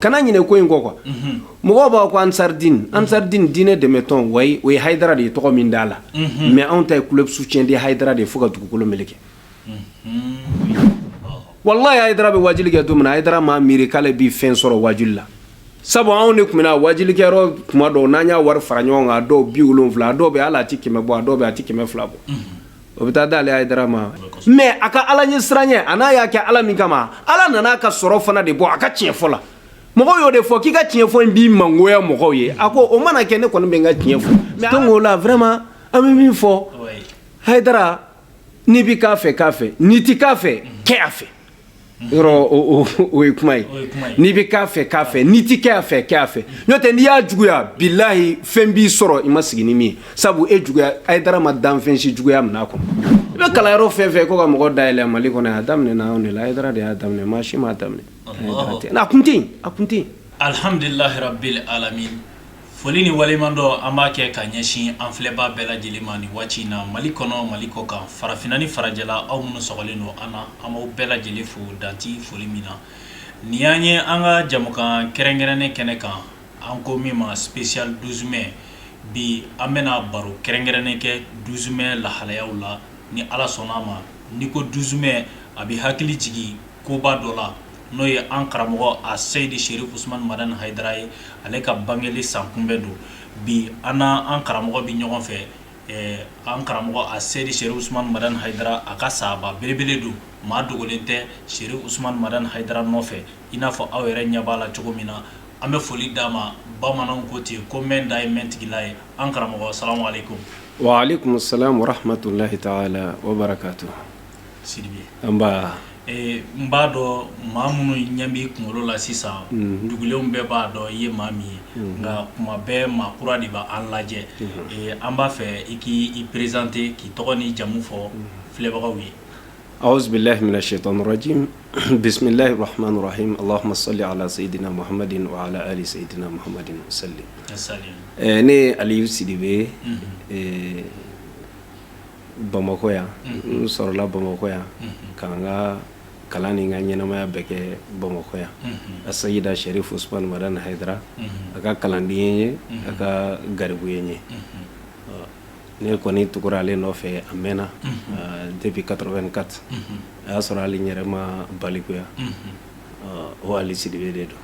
kana ɲinɛ ko in kɔ quoi mhm. mɔgɔw b'a ko ansaridini mhm. ansaridini diinɛ dɛmɛtɔn wayi o ye hayidara de ye tɔgɔ min d'a la mhm. mais anw ta ye club soutien de hayidara de ye fo ka dugukolo meleke walayi hayidara bɛ wajuli kɛ don min na hayidara m'a miiri k'ale bɛ fɛn sɔrɔ wajuli la sabu anw de tun bɛ na wajulikɛyɔrɔ kuma dɔw n'an y'a wari fara ɲɔgɔn kan a dɔw biwolonwula a dɔw bɛ hali a ti kɛmɛ bɔ a dɔw bɛ a ti kɛmɛ fila bɔ o bɛ taa d'ale hayidara ma mais a ka ala ɲɛ siranyɛ a n'a y'a kɛ ala min kama ala nana ka sɔrɔ fana de bɔ a ka tiɲɛ fɔ la mɔgɔw y'o de fɔ k'i ka tiɲɛ fɔ in b'i mangoya mɔgɔw ye a ko o mana kɛ ne kɔni bɛ n ka tiɲɛ fɔ mais donc o la vraiment an bɛ min fɔ hayidara n'i bɛ k'a fɛ k'a fɛ n'i tɛ k'a fɛ kɛ a fɛ Yɔrɔ o ye kuma ye n'i bɛ k'a fɛ k'a fɛ n'i tɛ kɛ' fɛ k'a fɛ n'o tɛ n'i y'a juguya bilayi fɛn b'i sɔrɔ i ma sigi ni min ye sabu e juguya hayidara ma danfɛn si juguya minɛ a kɔnɔ i bɛ kala yɔrɔ fɛn fɛ ko ka mɔgɔ dayɛlɛ mali kɔnɔ a daminɛ n' de la a de y'a daminɛ maa si m'a daminɛ a kun a kun alihamdulilahara ala Foli ni waleɲumandɔn an b'a kɛ ka ɲɛsin an filɛbaa bɛɛ lajɛlen ma ni waati in na mali kɔnɔ mali kɔkan farafinna ni farajɛla aw minnu sɔrɔlen don an na an b'aw bɛɛ lajɛlen fo dan tɛ foli min na nin y'an ye an ka jɛmukan kɛrɛnkɛrɛnnen kɛnɛ kan an ko min ma spécial douze mai bi an bɛna baro kɛrɛnkɛrɛnnen kɛ douze mai lahalayaw la ni ala sɔnna a ma n'i ko douze mai a bɛ hakili jigin koba dɔ la n'o ye an karamɔgɔ a seyidi serifu usman madani hayidara ye ale ka bangeli san kunbɛn don bi an n'an karamɔgɔ bɛ ɲɔgɔn fɛ an karamɔgɔ a seyidi serifu usman madani hayidara a ka sahaba belebele don maa dogolen tɛ serifu usman madani hayidara nɔfɛ i n'a fɔ aw yɛrɛ ɲɛ b'a la cogo min na an bɛ foli d'a ma bamananw ko ten yen ko mɛ da ye mɛntigila ye an karamɔgɔ salamu aleyikum wa aleyikum salam wa rahamatulahi tala wa barakatu sidibe an b'a dɔn maa minnu ɲɛ bɛ kunkolo la sisan dugulen bɛɛ b'a dɔn i ye maa min ye nka kuma bɛɛ maa kura de bɛ an lajɛ an b'a fɛ i k'i présenter k'i tɔgɔ ni jamu fɔ filɛbagaw ye awuzubilahi mina sɛtani rajimi bisimilahi rahamani rahimi alahuma sali ala seyidina mahamadin ala seyidina mahamadi sali ne ali sidibe bamakɔ yan n sɔrɔla bamakɔ yan ka n ka kalan ni n ka ɲɛnamaya bɛɛ kɛ bamakɔ yan a seyidi serifu usman madani hayidara a ka kalanden ye n ye a ka garibu ye n ye ne kɔni tugura ale nɔfɛ a mɛnna depuis quatre-vingt-quatre a y'a sɔrɔ hali n yɛrɛ ma balikuya O ali sidibe de don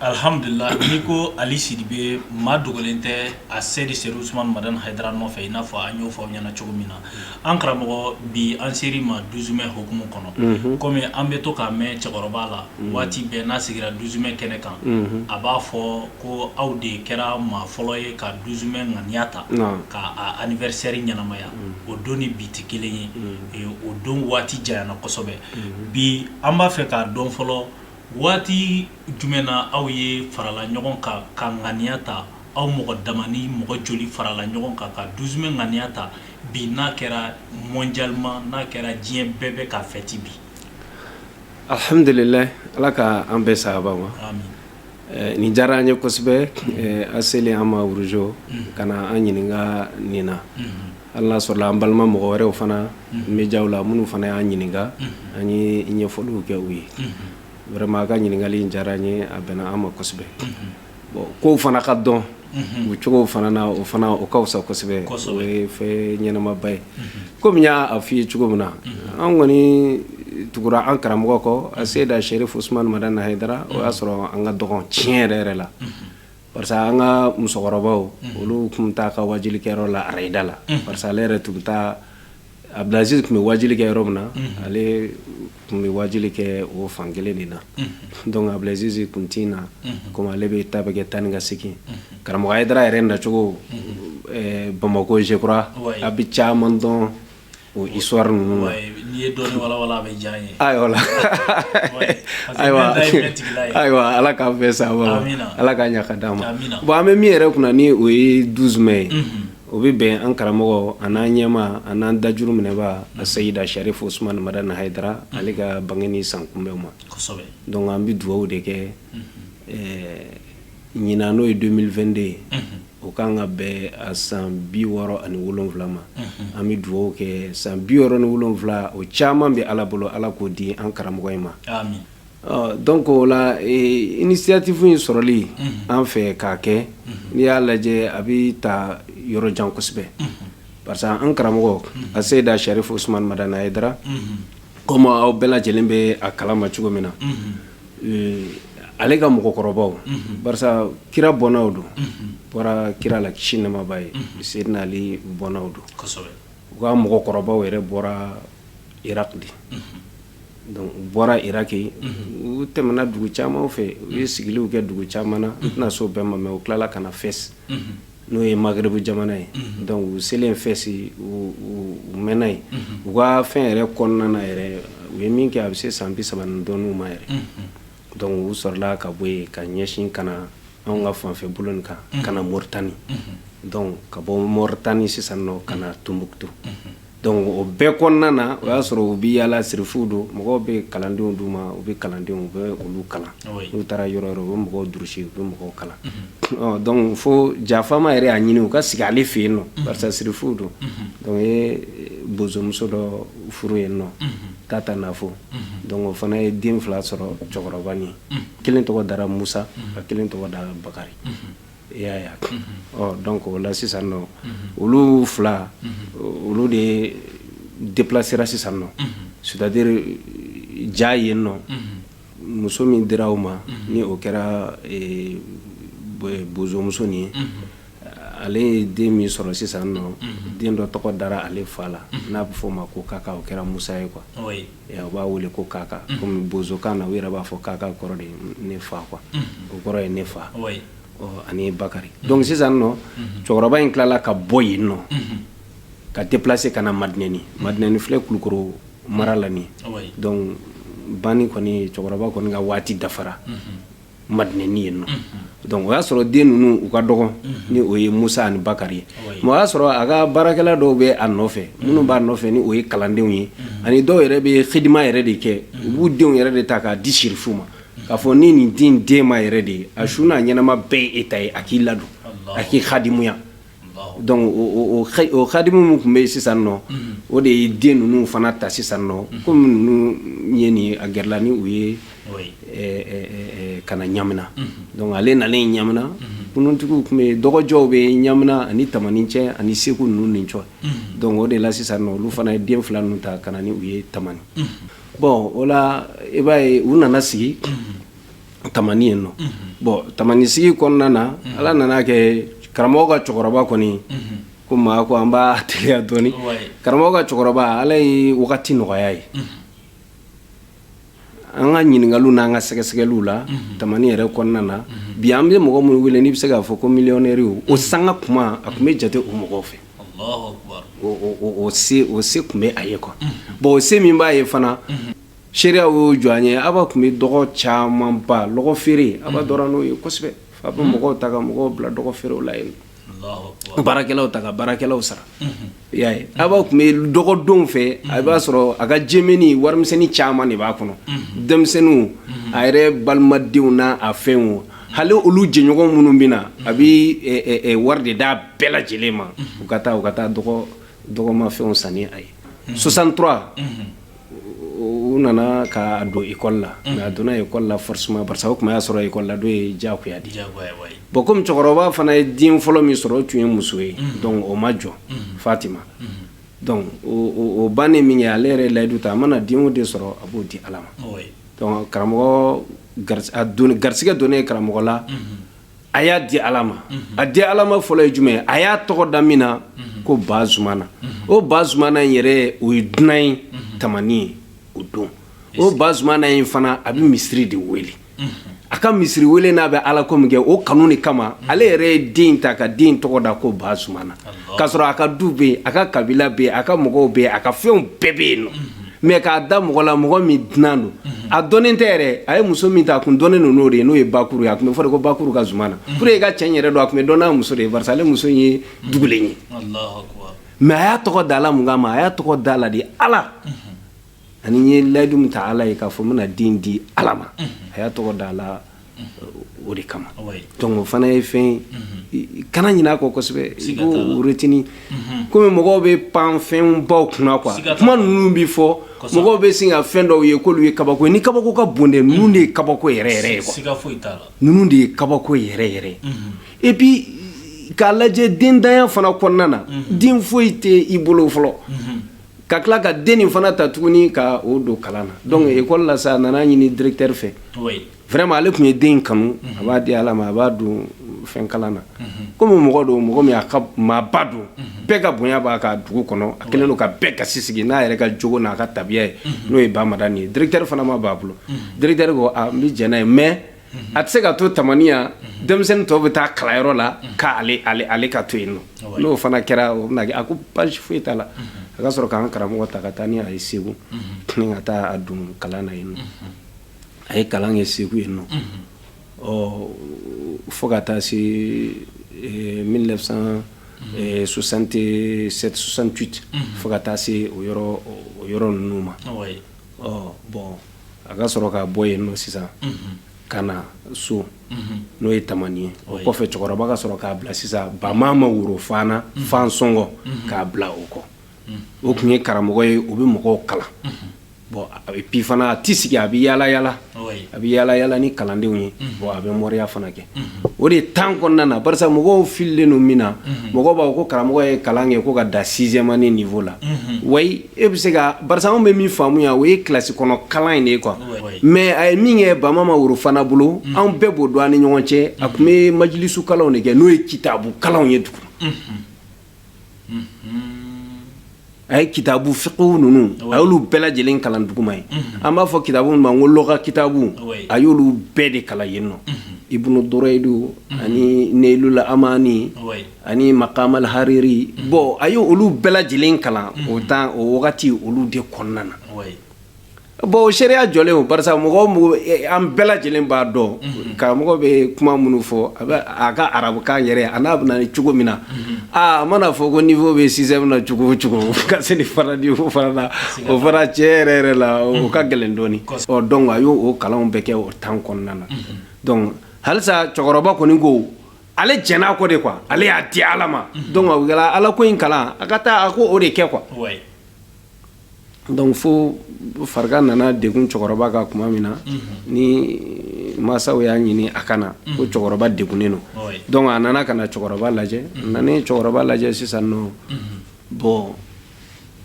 alihamdulila n'i ko ali sidibe maa dogolen tɛ aseyida serifu usumani madani hayidara nɔfɛ i n'a fɔ an y'o fɔ aw ɲɛna cogo min na an karamɔgɔ bi an sera i ma douze mai hukumu kɔnɔ kɔmi an bɛ to k'a mɛn cɛkɔrɔba la waati bɛɛ n'a sigira douze mai kɛnɛ kan a b'a fɔ ko aw de kɛra maa fɔlɔ ye ka douze mai ŋaniya ta k'a anniversaire ɲɛnamaya o don ni bi tɛ kelen ye o don waati janyana kosɛbɛ bi an b'a fɛ k'a dɔn fɔlɔ waati jumɛn na aw ye farala ɲɔgɔn kan ka ŋaniya ta aw mɔgɔ damanin mɔgɔ joli farala ɲɔgɔn kan ka douze mai ŋaniya ta bi n'a kɛra mondialement n'a kɛra diɲɛ bɛɛ bɛ k'a fɛti bi alihamdulila ala ka an bɛ saba ma Eh, nin diyara an ye kosɛbɛ eh, a selen an ma wuruzo mm-hmm. ka na an ɲininka nin na mm-hmm. hali n'a sɔrɔla an balima mɔgɔ wɛrɛw fana mm-hmm. mediaw la minnu fana y'an ɲininka an ye ɲɛfɔliw kɛ u ye vraiment a ka ɲininkali in diyara an ye a bɛnna an ma kosɛbɛ bon kow fana ka dɔn o cogo fana na o fana o ka fisa kosɛbɛ o ye fɛn ɲɛnamaba ye kɔmi y'a f'i ye cogo min na an kɔni tugura an karamɔgɔ kɔ aseyida serifu usumani madani hayidara o y'a sɔrɔ an ka dɔgɔn tiɲɛ yɛrɛ yɛrɛ la parce que an ka musokɔrɔbaw olu tun taa ka waajulikɛyɔrɔ la arayida la parce ale yɛrɛ tun bɛ taa Abidulazizi tun bɛ waajuli kɛ yɔrɔ min na ale tun bɛ waajuli kɛ o fan kelen de na dɔnku abidulazizi tun tɛ na komi ale bɛ ta bɛ kɛ taa ni ka segin karamɔgɔ hayidara yɛrɛ nacogo bamakɔ je crois a bɛ caman dɔn o histoire ninnu la ayiwa ayiwa ayiwa ala k' bɛ sa ala k'a ɲagaka d' ma bon an bɛ min yɛrɛ kunna ni o ye douze mai ye O bɛ bɛn an karamɔgɔ an n'an ɲɛmaa an n'an dajuru minɛbaa asayida sarifu usumani madani hayidara ale ka bangeli sankunbɛn ma dɔnku an bɛ dugawu de kɛ ɲinan n'o ye deux mille vingt-deux ye o ka kan ka bɛn san bi wɔɔrɔ ani wolonwula ma an bɛ dugawu kɛ san bi wɔɔrɔ ni wolonwula o caman bɛ ala bolo ala k'o di an karamɔgɔ in ma Dɔnku o la initiative in sɔrɔli an fɛ k'a kɛ n'i y'a lajɛ a bɛ taa yɔrɔ jan kosɛbɛ parce que an karamɔgɔ aseyida sarifu usumani madani hayidara kɔmi aw bɛɛ lajɛlen bɛ a kala ma cogo min na ale ka mɔgɔkɔrɔbaw kira bɔnnaw don u bɔra kira la kisi ni nɛɛma b'a ye seyidina ali bɔnnaw don u ka mɔgɔkɔrɔbaw yɛrɛ bɔra iraki de Dɔnku u bɔra iraki yen u tɛmɛna dugu caman fɛ u ye sigiliw kɛ dugu caman na n tɛna s'o bɛɛ ma mɛ u tilala ka na fɛsi n'o ye magreb jamana ye dɔnku u selen fɛsi u mɛnna yen u ka fɛn yɛrɛ kɔnɔna yɛrɛ u ye min kɛ a bɛ se san bi saba ni dɔɔni ma yɛrɛ dɔnku u sɔrɔla ka bɔ yen ka ɲɛsin ka na anw ka fanfɛ bolo kan ka na moritani dɔnku ka bɔ moritani sisan ka na tumbutu Dɔnku o bɛɛ kɔnɔna na o y'a sɔrɔ u bɛ yaala la sirifu don mɔgɔw bɛ kalandenw d'u ma u bɛ kalandenw u bɛ olu kalan n'u taara yɔrɔ yɔrɔ u bɛ mɔgɔw durusi u bɛ mɔgɔw kalan dɔnku fo ja faama yɛrɛ y'a ɲini u ka sigi ale fɛ yen nɔ parce que sirifu don dɔnku u ye bozomuso dɔ furu yen nɔ tata nafo dɔnku o fana ye den fila sɔrɔ cɛkɔrɔba ye kelen tɔgɔ dara musa ka kelen tɔgɔ dara bakari E y'a ye wa? Unhun. Donc o la sisan nɔ, unhun, olu fila, unhun, olu de deplacera sisan nɔ, unhun, c'est à dire ja yen nɔ, unhun, muso min dira u ma, unhun, ni o kɛra ee bozomuso nin ye, unhun, ale ye den min sɔrɔ sisan nɔ, unhun, den dɔ tɔgɔ dara ale fa la, unhun, n'a bɛ f'o ma ko Kaka o kɛra Musa ye quoi, oui u b'a wele ko kaka kɔmi bozokan na u yɛrɛ b'a fɔ kaka kɔrɔ de ne fa quoi o kɔrɔ ye ne fa ani bakari dɔnku sisan nɔ cɛkɔrɔba in tilala ka bɔ yen nɔ ka deplase ka na madinɛni madinɛni filɛ kulukɔrɔ mara la ban kɔni cɛkɔrɔba kɔni ka waati dafara madinɛni yen nɔ donc o y'a sɔrɔ den ninnu u ka dɔgɔ ni o ye musa ani bakari ye mais o y'a sɔrɔ a ka baarakɛla dɔw bɛ a nɔfɛ minnu b'a nɔfɛ ni o ye kalandenw ye ani dɔw yɛrɛ bɛ xidima yɛrɛ de kɛ u b'u denw yɛrɛ de ta k'a di sirifu ma k'a fɔ ni nin den den ma yɛrɛ de ye a su n'a ɲɛnama bɛɛ ye e ta ye a k'i ladon a k'i xadimuya Dɔnku o xadimu minnu tun bɛ yen sisan nɔ o de ye den ninnu fana ta sisan nɔ kɔmi ye nin a gɛrɛla ni u ye ka na ɲamina dɔnku ale na ɲamina kuruntigiw tun bɛ dɔgɔ jɔ u bɛ ɲamina ani tamani cɛ ani segu ninnu ni cɛ dɔnku o de la sisan nɔ olu fana ye den fila ninnu ta ka na n'u ye tamani bɔn o i b'a ye u nana sigi tamani yen nɔ bɔn tamani sigi kɔnɔna na ala nana a kɛ karamɔgɔ ka cɛkɔrɔba kɔni ko maa ko an b'a teliya dɔɔni karamɔgɔ ka cɛkɔrɔba ala ye wagati nɔgɔya ye an ka ɲininkaliw n'an ka sɛgɛsɛgɛliw la tamani yɛrɛ kɔnɔna na bi an bɛ mɔgɔ minnu wele n'i bɛ se k'a fɔ ko miliyɔnɛriw o sanga kuma a tun bɛ jate o mɔgɔw fɛ o se tun bɛ a ye kuwa bɔn o se min b'a ye fana Seereya y'o jɔ an ye a ba tun bɛ dɔgɔ caman ba dɔgɔ feere a dɔn n'o ye kosɛbɛ f'a bɛ mɔgɔw ta ka mɔgɔw bila dɔgɔ feerew la yen baarakɛlaw ta ka baarakɛlaw sara y'a ye a ba tun bɛ dɔgɔdon fɛ a b'a sɔrɔ a ka jɛmɛnin warimisɛnnin caman de b'a kɔnɔ denmisɛnninw a yɛrɛ balimadenw n'a a fɛn o hali olu jɛɲɔgɔn minnu bɛ na a bɛ wari de d'a bɛɛ lajɛlen ma u ka taa u ka taa dɔgɔma fɛnw san a ye soixante-trois u nana k'a don ekɔli la a donna ekɔli la forcément pa o tuma y'a sɔrɔ ekɔli la don ye jagoya di bɔn kɔmi cɛkɔrɔba fana ye den fɔlɔ min sɔrɔ o tun ye muso ye dɔnku o ma jɔ fatima dɔnku o bannen min kɛ ale yɛrɛ layidu ta a mana den o den sɔrɔ a b'o di ala ma karamɔgɔ garisɛgɛ don ye karamɔgɔ la a y'a di ala ma a di ala ma fɔlɔ ye jumɛn a y'a tɔgɔ da min na ko ba zumana o ba zumana in yɛrɛ o ye dunan ye tamani yen o don o ba zumana in fana a bɛ misiri de wele a ka misiri wele n'a bɛ ala ko min kɛ o kanu de kama ale yɛrɛ ye den ta ka den tɔgɔ da ko ba zumana k'a sɔrɔ a ka du bɛ yen a ka kabila bɛ yen a ka mɔgɔw bɛ yen a ka fɛnw bɛɛ bɛ yen nɔ mɛ k'a da mɔgɔ la mɔgɔ min dunan don a dɔnnen tɛ yɛrɛ a ye muso min ta a kun dɔnnen don n'o de ye n'o ye bakuru ye a tun bɛ fɔ ko bakuru ka zumana p e ka cɛ yɛrɛ don a tun bɛ dɔn n'a muso de ye barisa ale muso in ye dugulen ye mɛ a y'a tɔgɔ d'a la mun kama a y'a tɔgɔ d'a la de ala ani a ye layidu min ta ala ye k'a fɔ n bɛna den di ala ma a y'a tɔgɔ d'a la o de kama dɔnku fana ye fɛn kana ɲin'a kɔ kosɛbɛtinin kɔmi mɔgɔw bɛ pan fɛn baw kunna ka kuma ninnu bɛ fɔ mɔgɔw bɛ sin ka fɛn dɔw ye k'olu ye kabako ye nin kabako ka bon dɛ ninnu de ye kabako yɛrɛ yɛrɛ ye ninnu de ye kabako yɛrɛ yɛrɛ et puis k'a lajɛ denntanya fana kɔnɔna na den foyi tɛ i bolo fɔlɔ ka tila ka den nin fana ta tuguni ka o don kalan na donc mm-hmm. école la sa a nana ɲini directeur fɛ vraiment ale tun ye den kanu mm-hmm. a b'a di ala ma a b'a don fɛn kalan na mm-hmm. komi mɔgɔ don mɔgɔ min a ka maaba don bɛɛ ka bonya b'a kan dugu kɔnɔ a kɛlen don ka bɛɛ kasi sigi n'a yɛrɛ ka jogo n'a ka tabiya ye n'o ye ba madani ye directeur fana ma ban a bolo directeur ko a n bɛ jɛn n'a ye mais a tɛ se ka to tamani yan denmisɛnnin tɔw bɛ taa kalanyɔrɔ la k' ale ka to yen nɔ n'o fana kɛra o bɛ a ko baasi foyi t'a la a ka sɔrɔ k'an karamɔgɔ ta ka taa ni a ye segu ka taa don kalan na yen nɔ a ye kalan kɛ segu yen nɔ ɔ fo ka taa se mille neuf cent soixante-huit fo ka taa se o yɔrɔ ninnu ma ɔ bɔn a ka sɔrɔ ka bɔ yen nɔ sisan ka na so n'o ye tamani ye o kɔfɛ cɛkɔrɔba ka sɔrɔ k'a bila sisan ba ma worofana fan sɔngɔ k'a bila o kɔ o tun ye karamɔgɔ ye u bɛ mɔgɔw kalan bɔn a bɛ pifana a tɛ sigi a bɛ yaala yaala a bɛ yaala yaala ni kalandenw ye bɔn a bɛ moriya fana kɛ o de ye tan kɔnɔna na bari mɔgɔw fililen don min na mɔgɔ b'a ko karamɔgɔ ye kalan kɛ ko ka dan sixième année nin fɔ la wa E bɛ se ka ba bɛ min faamuya o ye kilasi kɔnɔ kalan in de ye quoi mɛ a ye min kɛ bama ma worofana bolo anw bɛɛ b'o don an ni ɲɔgɔn cɛ a tun bɛ majilisu kalanw de kɛ n'o ye kitabu kalanw ye dugu a ye kitabu fɛnw ninnu a y'olu bɛɛ lajɛlen kalan duguma yen an b'a fɔ kitabu ma ko luga kitabu a y'olu bɛɛ de kalan yen nɔ ibunu durayidin ani ɲɛla an ani makamal hariri mm. bɔn a ye olu bɛɛ lajɛlen kalan mm. o tan o wagati olu de kɔnɔna na bɔn o seereya jɔlen o barisa mɔgɔ mɔgɔ e, an bɛɛ lajɛlen b'a dɔn mm-hmm. karamɔgɔ bɛ kuma minnu fɔ a bɛ a ka arabukan yɛrɛ a n'a bɛna ni cogo min na mm-hmm. aa a mana fɔ ko niwo bɛ sixième na cogo o cogo ka se ni fara di o fara la o fara cɛ yɛrɛ yɛrɛ la o mm-hmm. ka gɛlɛn dɔɔni ɔ dɔnku a y'o o kalanw bɛɛ kɛ o tan kɔnɔna na dɔnku halisa cɛkɔrɔba kɔni ko ale jɛn'a kɔ de quoi ale y'a di ala ma donc o kɛla ala ko in kalan a ka taa a ko o de kɛ quoi ouais. donc fo farika nana degun cɛkɔrɔba ka kuma min na ni masaw y'a ɲini a ka na ko cɛkɔrɔba degunnen don Ouais. donc a nana ka na cɛkɔrɔba lajɛ a nana ye cɛkɔrɔba lajɛ sisan nɔ bɔn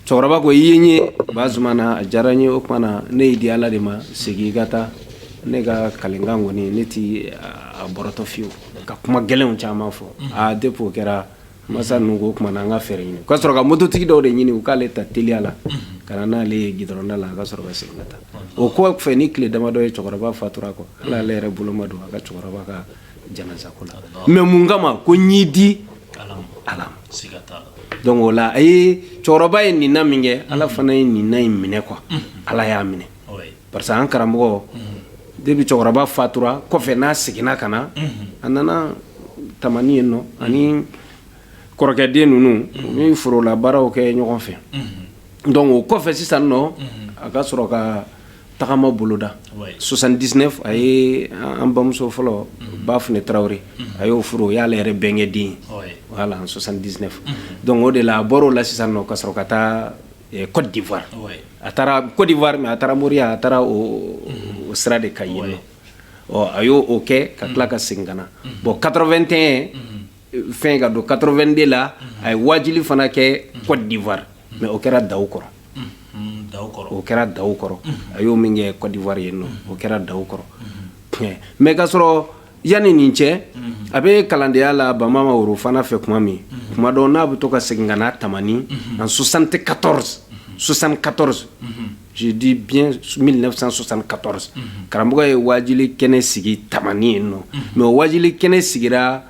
cɛkɔrɔba ko i ye n ye bazumana a diyara n ye o kuma na ne y'i di ala de ma segin i ka taa ne ka kalikan kɔni ne ti a bɔrɔtɔ fiyewu ka kuma gɛlɛnw caman fɔ a depi o kɛra masa ninnu k'o kuma na an ka fɛɛrɛ ɲini ka sɔrɔ ka mototigi dɔw de ɲini u k'ale ta teliya la ka na n'ale ye gudɔrɔnda la a ka sɔrɔ ka segin ka taa o kɔfɛ ni tile damadɔ ye cɛkɔrɔba fatura kɔ hali ale yɛrɛ bolo ma don a ka cɛkɔrɔba ka janazako la mɛ mun kama ko n y'i di ala donc o la a ye cɛkɔrɔba ye ŋaniya min kɛ ala mm-hmm. fana ye ŋaniya in minɛ quoi mm-hmm. ala y'a minɛ parce que an karamɔgɔ mm-hmm. depi cɛkɔrɔba fatura kɔfɛ n'a seginna ka na a nana tamani yen nɔ a ni kɔrɔkɛ den ninnu u bɛ forolabaaraw kɛ ɲɔgɔn fɛ donc o kɔfɛ sisan nɔ a ka sɔrɔ ka tagama boloda 79 a ye an bamuso fɔlɔ bafunɛ tarawele a y'o furu o y'ale yɛrɛ bɛnkɛ den wala 79 don o de la a bɔra o la sisan ka sɔrɔ ka taa kɔdiwari a taara kɔdiwari mɛ a taara moriya a taara o sira de kan yen nɔ a y'o oo kɛ ka tila ka segin ka na bɔn 81 fɛn ka don 82 la a ye wajili fana kɛ Côte d'Ivoire mais o kɛra daw kɔrɔ o kɛra daw kɔrɔ a y'o min kɛ Côte d'Ivoire yen nɔ o kɛra daw kɔrɔ mais ka sɔrɔ yanni nin cɛ a bɛ kalandenya la Bamama Worofana fɛ kuma min kuma dɔ na a bɛ to ka segin ka na tamani en 74 74 je dis bien 1974 karamɔgɔ ye wajili kɛnɛ sigi tamani yen nɔ mais o wajili kɛnɛ sigira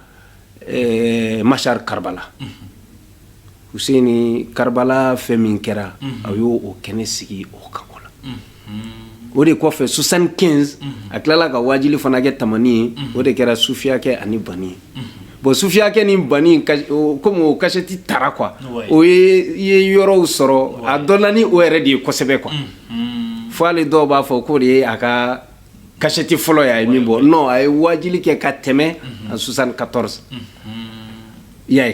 eh, mashar karbala huseni karbala fɛn min kɛra a y'o o kɛnɛ sigi o kan o la o de kɔfɛ 75 a tilala ka wajili fana kɛ tamani yen o de kɛra sufiyakɛ ani bani ye bon sufiyakɛ ni bani kɔmi o kasɛti taara quoi o ye yɔrɔw sɔrɔ a dɔnna ni o yɛrɛ de ye kosɛbɛ quoi fo ale dɔw b'a fɔ k'o de ye a ka kasɛti fɔlɔ ye a ye min bɔ nɔ a ye wajili kɛ ka tɛmɛ en 74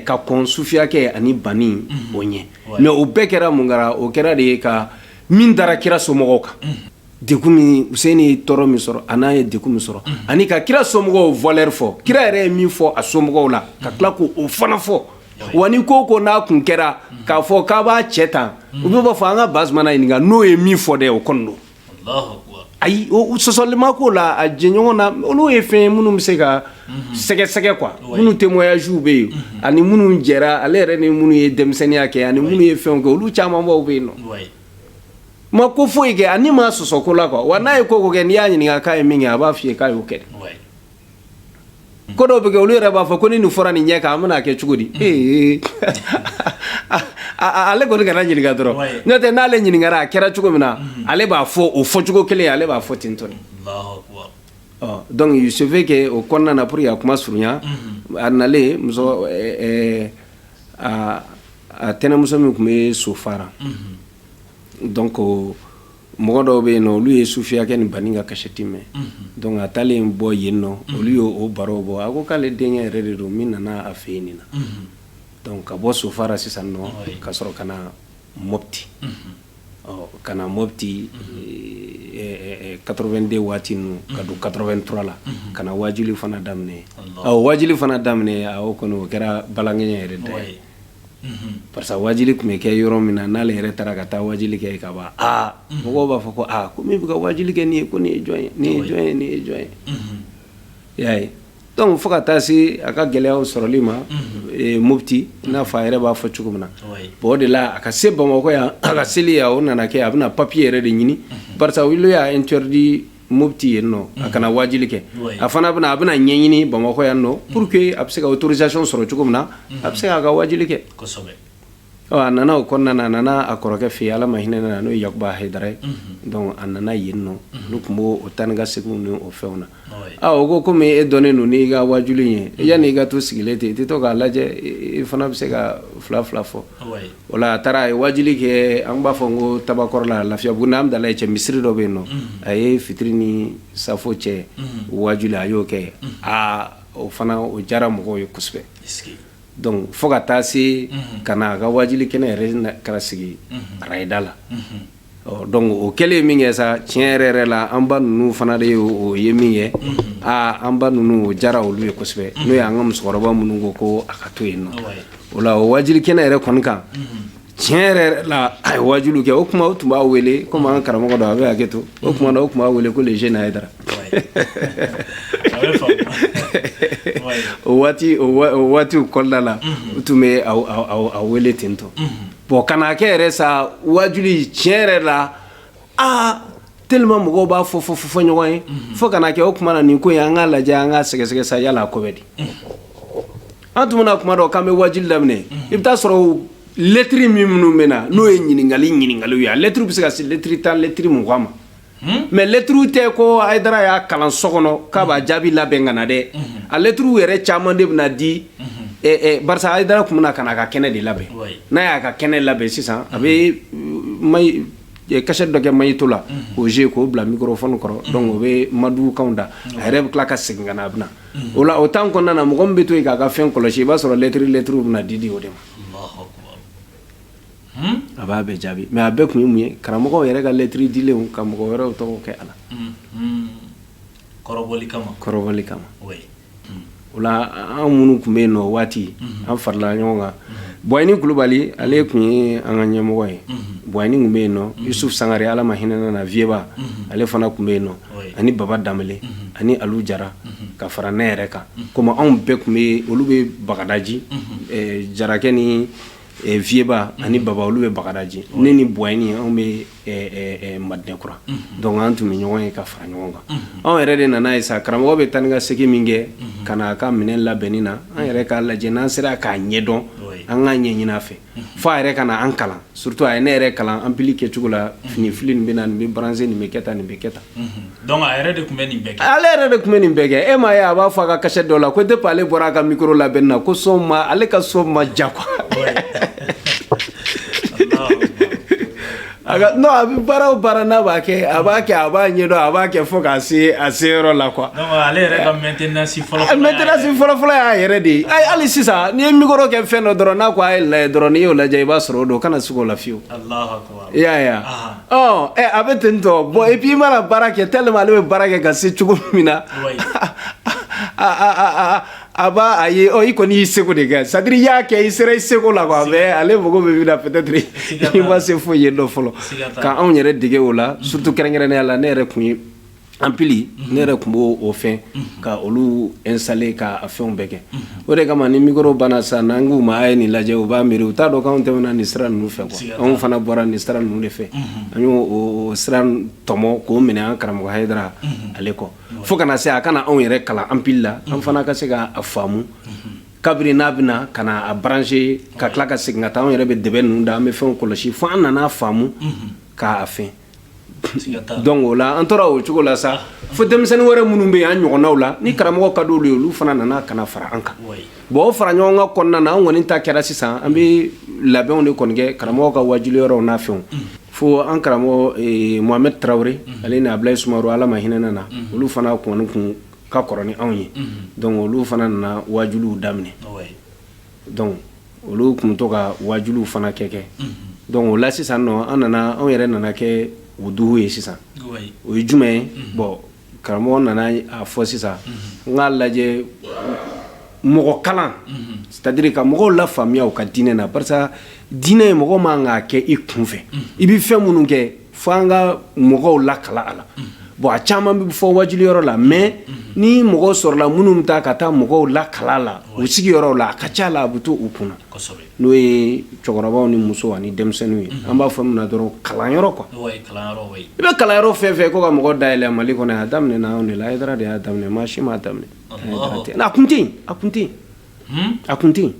ka kɔn sufiyakɛ ani bani o ɲɛ mais o bɛɛ kɛra mun kɛra o kɛra de ye ka min dara kira somɔgɔw kan Huseni ye tɔɔrɔ min sɔrɔ an'a ye de min sɔrɔ ani ka kira somɔgɔw bɛɛ fɔ kira yɛrɛ ye min fɔ a somɔgɔw la ka tila k' o fana fɔ wa ko ko n'a tun kɛra k'a fɔ k'a b'a cɛ tan u bɛ b'a fɔ an k'a base ɲini n'o ye min fɔ de o kɔnɔ don ayi sɔsɔli ma k'o la a jɛɲɔgɔn na olu ye fɛn ye minnu bɛ se ka sɛgɛsɛgɛ quoi minnu témoignages bɛ yen ani minnu jɛra ale yɛrɛ ni minnu ye denmisɛnninya kɛ ani minnu ye fɛn kɛ olu camanbaw bɛ yen nɔ ma ko foyi kɛ ani ma sɔsɔ ko la quoi wa n'a ye ko ko kɛ n'i y'a ɲininka k'a ye min kɛ a b'a f'i ye k'a y'o kɛ ko dɔw bɛ kɛ olu yɛrɛ b'a fɔ ko ni nin fɔra nin ɲɛ kan an bɛna kɛ cogo di ee ale kɔni kana ɲininka dɔrɔn n'o tɛ n'ale ɲininkara a kɛra cogo min na mm-hmm. ale b'a fɔ o fɔ cogo kelen ale b'a fɔ ten tɔ donc il se fait que o kɔnɔna na pour que a kuma surunya mm-hmm. a nalen muso a tɛnɛmuso min tun bɛ sofara mm-hmm. donc mɔgɔ dɔw bɛ yen nɔ olu ye sufiyakɛ ni bani ka kasɛti mɛn donc a taalen bɔ yen nɔ olu y' o baro bɔ a ko k'ale denkɛ yɛrɛ de don min nana a fɛ nin na donc ka bɔ sofara sisan nɔ ka sɔrɔ ka na mɔti ɔ ka na mɔti 82 waati ninnu ka don 83 la ka na wajuli fana daminɛ ɔ wajuli fana daminɛ o kɔnɔ o kɛra balankɛ yɛrɛ de ye parce wajili tun bɛ kɛ yɔrɔ min na n'ale yɛrɛ taara ka taa wajili kɛ ka ban aa mɔgɔw b'a fɔ ko aa ko min bɛ ka wajili kɛ nin ye ko nin jɔn ye nin ye jɔn ye nin ye jɔn ye y'a ye donc fo ka taa se a ka gɛlɛya sɔrɔli ma mɔti n'a fɔ a yɛrɛ b'a fɔ cogo min na o de la a ka se bamakɔ yan a ka seli yan o nana kɛ a bɛna papiye yɛrɛ de ɲini karisa y'a interdit moti yen nɔ a kana waajuli kɛ a fana a bɛna ɲɛɲini bamakɔ yan nɔ pur que a bɛ se ka autorisation sɔrɔ cogo min na a bɛ se k'a ka waajuli kɛ a nana o kɔnɔna a nana a kɔrɔkɛ fɛ yen ala ma hinɛ a la n'o ye yakuba haidara ye a nana yen nɔ olu tun b' o taa ni ka segin ni o fɛnw na aaa o ko kɔmi e dɔnnen don n'i ka waajuli ye e yann'i ka to sigilen ten i tɛ to k'a lajɛ e fana bɛ se ka fila fila fɔ wala a taara a ye waajuli kɛ an b'a fɔ n ko tabakɔrɔ la lafiyabugu ni hamdalaye cɛ misiri dɔ bɛ yen nɔ a ye fitiri ni safo cɛ waajuli a y'o kɛ aa o fana o jara mɔgɔw ye kosɛbɛ dɔnku fo ka taa se ka na a ka waajuli kɛnɛ yɛrɛ kɛra sigi arayida la dɔnku o kɛlen ye min kɛ sa tiɲɛ yɛrɛ yɛrɛ la an ba ninnu fana de ye o ye min kɛ aa an ba ninnu o jara olu ye kosɛbɛ n'o ye an ka musokɔrɔba minnu ko ko a ka to yen nɔ o la o waajuli kɛnɛ yɛrɛ kɔni kan tiɲɛ yɛrɛ yɛrɛ la a ye waajuli kɛ o tuma u tun b'a wele kɔmi an karamɔgɔ don a bɛ hakɛ to o tuma na u tun b'a wele ko le jeune haidara o waati o waatiw kɔda la u tun bɛ a wele ten tɔ Bon ka na kɛ yɛrɛ sa waajuli tiɲɛ yɛrɛ la aa tellement mɔgɔw b'a fɔ fɔ fo fɔ ɲɔgɔn ye fo ka na kɛ o tuma na nin ko ye an k'a lajɛ an k'a sɛgɛsɛgɛ sa yala a ko bɛ di an tun mana kuma dɔn k'an bɛ waajuli daminɛ i bɛ t'a sɔrɔ lɛtri min minnu bɛ na n'o ye ɲininkali ɲininkaliw ye a lɛtriw bɛ se ka se lɛtri tan lɛtri mugan ma mɛ lɛtri tɛ ko haidara y'a kalan so kɔnɔ k'a b'a jaabi labɛn ka na dɛ a lɛtriw yɛrɛ caman de bɛ na di haidara tun bɛ ka a ka kɛnɛ de labɛn n'a y'a ka kɛnɛ labɛn sisan a bɛ kasɛti dɔ kɛ maɲɛto la k'o jouer k'o bila mikoro f kɔrɔ dɔnku o bɛ madukan da a yɛrɛ bɛ tila ka segin ka a bɛ o la o tan kɔnɔna na mɔgɔ bɛ to yen k'a ka fɛn kɔlɔsi i b'a sɔrɔ lɛtri lɛtri bɛ na di di o de ma a b'a bɛɛ jaabi mɛ a bɛɛ tun ye mun ye karamɔgɔ yɛrɛ ka lɛtri dilan ka mɔgɔ wɛrɛw tɔgɔ kɛ a la kɔrɔ kama kɔrɔ kama o an minnu tun bɛ yen nɔ waati an faralen ɲɔgɔn kan bɔni kulubali ale tun ye an ka ɲɛmɔgɔ ye bɔni tun bɛ yen nɔ su sanga ala ma hinɛ a la vyɛba ale fana tun bɛ yen nɔ ani baba da ani ali jara ka fara ne yɛrɛ kan kɔmi anw bɛɛ tun bɛ olu bɛ bagadaji jarakɛ ni Vieba ani baba olu bɛ bagadaji ne ni bɔni anw bɛ madinakura dɔnku an tun bɛ ɲɔgɔn ye ka fara ɲɔgɔn kan anw yɛrɛ de nana ye sa karamɔgɔ bɛ taa ni ka segin min kɛ ka na a ka minɛn labɛnni na an yɛrɛ k'a lajɛ n'an sera k'a ɲɛdɔn an k'a ɲɛ ɲini a fɛ fo a yɛrɛ ka na an kalan surtout a ye ne yɛrɛ kalan ampli kɛ cogo la fini fili bɛ na nin bɛ branché nin bɛ kɛ tan nin bɛ kɛ tan Donc a yɛrɛ de tun bɛ nin bɛɛ kɛ ale yɛrɛ de tun bɛ nin bɛɛ kɛ e m'a ye a b'a fɔ a ka kasɛti dɔ la ko tɛ ale bɔra a ka biro la bɛ na ko so ma ale ka so ma jan quoi a bɛ baaraw baara n'a b'a kɛ a b'a kɛ a b'a ɲɛdɔn a b'a kɛ fɔ k'a se a se yɔrɔ la quoi ale mɛtsi fɔlɔfɔlɔ y'a yɛrɛ de ye hali sisan n'i ye mikoro kɛ fɛn dɔ dɔrɔn n'a ko a ye la dɔrɔn n'i y'o lajɛ i b'a sɔrɔ o don ka na segin o layewu i y'a ye wa, ɔɔ, ɛ a bɛ ten tɔ bon et puis i mana baara kɛ tellement ale bɛ baara kɛ ka se cogo min na, wayi, aa a b'a a ye ɔ i kɔni y'i seko de kɛ c'est à dire i y'a kɛ i sera i seko la quoi mais ale mago bɛ min na peut être i ma se foyi ye nɔ fɔlɔ, siga t'a la, ka anw yɛrɛ dege o la surtout kɛrɛnkɛrɛnnenya la ne yɛrɛ tun ye en plus ne yɛrɛ tun b'o o fɛn ka olu installer k'a fɛnw bɛɛ kɛ o de kama ni mikoro banna sa n'an k'u ma a ye nin lajɛ u b'a miiri u t'a dɔn anw tɛmɛna nin sira ninnu fɛ quoi anw fana bɔra nin sira ninnu de fɛ an y'o sira tɔmɔ k'o minɛ an karamɔgɔ hara ale kɔ fo ka na na se a ka na anw yɛrɛ kalan en plus an fana ka se k'a faamu kabini n'a bɛna ka a brancher ka tila ka segin ka taa anw yɛrɛ bɛ dɛ ninnu da an bɛ fɛn kɔlɔsi fo an nana faamu k'a fɛ Dɔnku o la an tora o cogo la sa fo denmisɛnnin wɛrɛ minnu bɛ an ɲɔgɔnw la ni karamɔgɔ ka don de olu fana nana ka fara an kan bon fara ɲɔgɔn ka kɔnɔna na an kɔni ta kɛra sisan an bɛ labɛnw de kɔni kɛ karamɔgɔ ka waajuli yɔrɔ na fɛn fo an karamɔgɔ Mohamed Tarawele ale n'a bila Sumaworo Ala ma hinɛ u la olu fana kun kun ka kɔrɔ anw ye dɔnku olu fana nana waajuli daminɛ dɔnku olu tun to ka waajuli fana kɛ kɛ dɔnku o la sisan an nana anw yɛrɛ nana kɛ u dugu ye sisan o ye jumɛn ye bon karamɔgɔ nana a fɔ sisan an k'a lajɛ mɔgɔ kalan c'est à dire ka mɔgɔw lafaamuya ka diinɛ na parce que diinɛ ye mɔgɔ man kan k'a kɛ i kun fɛ i bɛ fɛn minnu kɛ fo an ka mɔgɔw lakalan a la bon a caman bɛ fɔ waajuli yɔrɔ la mais ni mɔgɔ sɔrɔla minnu bɛ taa ka taa mɔgɔw lakalan u sigi yɔrɔ la a ka ca la a bɛ to u kunna n'o ye cɛkɔrɔbaw ni muso ani denmisɛnninw ye an b'a fɔ min dɔrɔn kalan yɔrɔ quoi i bɛ kalan yɔrɔ fɛn fɛ ko ka mɔgɔ dayɛlɛ mali kɔnɔ a daminɛ anw de la an de y'a daminɛ maa si m'a daminɛ a kun a kun a kun ten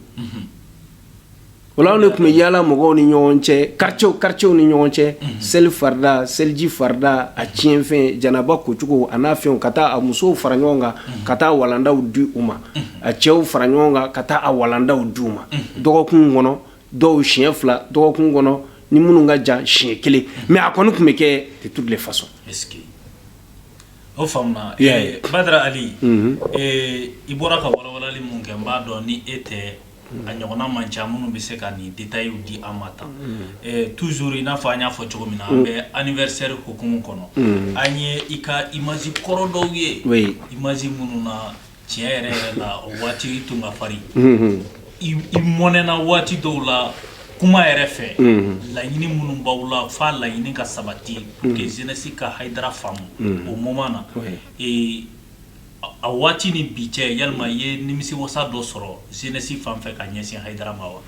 O la anw de tun bɛ yaala mɔgɔw ni ɲɔgɔn cɛ quartiers quartiers ni ɲɔgɔn cɛ seli farida seliji farida a tiɲɛnfɛn janaba kocogo a n'a fɛnw ka taa a musow fara ɲɔgɔn kan ka taa walandaw di u ma a cɛw fara ɲɔgɔn kan ka taa a walandaw di u ma dɔgɔkun kɔnɔ dɔw siɲɛ fila dɔgɔkun kɔnɔ ni minnu ka jan siɲɛ kelen mais a kɔni tun bɛ kɛ de toutes les façons. O faamuna Badara Ali i bɔra ka walawalali min kɛ n b'a dɔn ni e tɛ a ɲɔgɔnna man ca minnu bɛ se ka nin détailw di an ma tan toujours i n'a fɔ an y'a fɔ cogo min na an bɛ anniversaire hukumu kɔnɔ an ye i ka image kɔrɔ dɔw ye image minnu na tiɲɛ yɛrɛ yɛrɛ la o waati tun ka farin i mɔnɛna waati dɔw la kuma yɛrɛ fɛ laɲini minnu b'aw la fo a laɲini ka sabati pour que jeunesse ka haidara faamu o moment na A waati ni bi cɛ ya ye nimisiwasa dɔ sɔrɔ jeunesse fan fɛ ka ɲɛsin haidara ma wa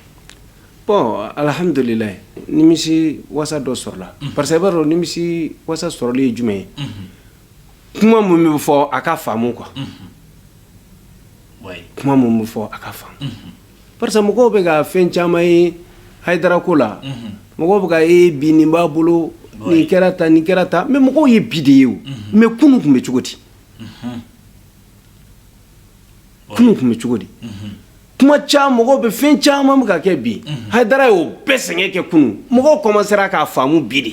bɔn alihamdulilayi nimisiwasa dɔ sɔrɔla parce que i b'a dɔn nimisiwasa sɔrɔlen ye jumɛn ye kuma minnu bɛ fɔ a ka faamu kan kuma minnu bɛ fɔ a ka faamu parce mɔgɔw bɛ ka fɛn caman ye haidara ko la mɔgɔw bɛ k'a ye bi nin b'a bolo nin kɛra tan nin kɛra tan mɛ mɔgɔw ye bi de ye o mɛ kunun tun bɛ cogo di kunun tun bɛ cogo di kuma caman mɔgɔw bɛ fɛn caman bɛ ka kɛ bi haidara y'o bɛɛ sɛgɛn kɛ kunun mɔgɔw kɔmansera k'a faamu bi de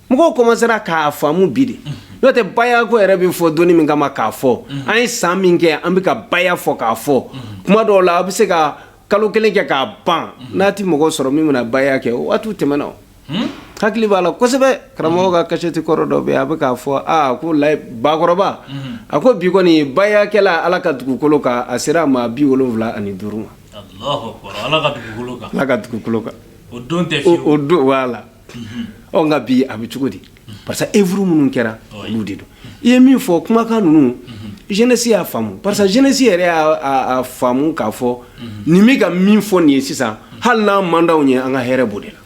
mɔgɔw kɔmansera k'a faamu bi de n'o tɛ bayako yɛrɛ bɛ fɔ dɔnni min kama k'a fɔ an ye san min kɛ an bɛ ka baya fɔ k'a fɔ kuma dɔw la a bɛ se ka kalo kelen kɛ k'a ban n'a tɛ mɔgɔ sɔrɔ min bɛna baya kɛ o waati tɛmɛna Hmm? hakili b'a la kosɛbɛ karamɔgɔ ka kasɛti kɔrɔ dɔ bɛ a bɛ k'a fɔ aa ko la bakɔrɔba hmm. a ko bi kɔni bayakɛla ala ka dugukolo kan a sera maa bi wolonwula ani duuru ma ala ka dugukolo kan ala ka dugukolo kan o don tɛ o don b'a la hmm. ɔ nka bi a bɛ cogo di parce que œuvre minnu kɛra olu de don i ye min fɔ kumakan ninnu jeunesse y'a faamu parce que jeunesse yɛrɛ y'a faamu k'a fɔ nin bɛ ka min fɔ nin ye sisan hali n'a man d'aw ye an ka hɛrɛ b'o de la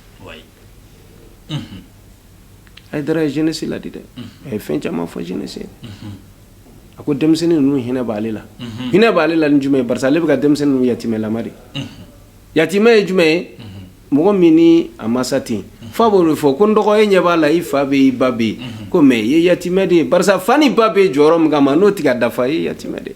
haidara ye jeunesse laadi dɛ a ye fɛn caman fɔ jeunesse a ko denmisɛnnin ninnu hinɛ b'ale la hinɛ b'ale la ni jumɛn ye parce ale bɛ ka denmisɛnnin yatimɛlama de yatimɛ ye jumɛn ye mɔgɔ min ni a masa tɛ yen fa b'o de fɔ ko n dɔgɔ e ɲɛ b'a la i fa bɛ yen i ba bɛ yen ko mɛ i ye yatimɛ de ye barisa fa ni ba bɛ jɔyɔrɔ min kama n'o tɛ k'a dafa i ye yatimɛ de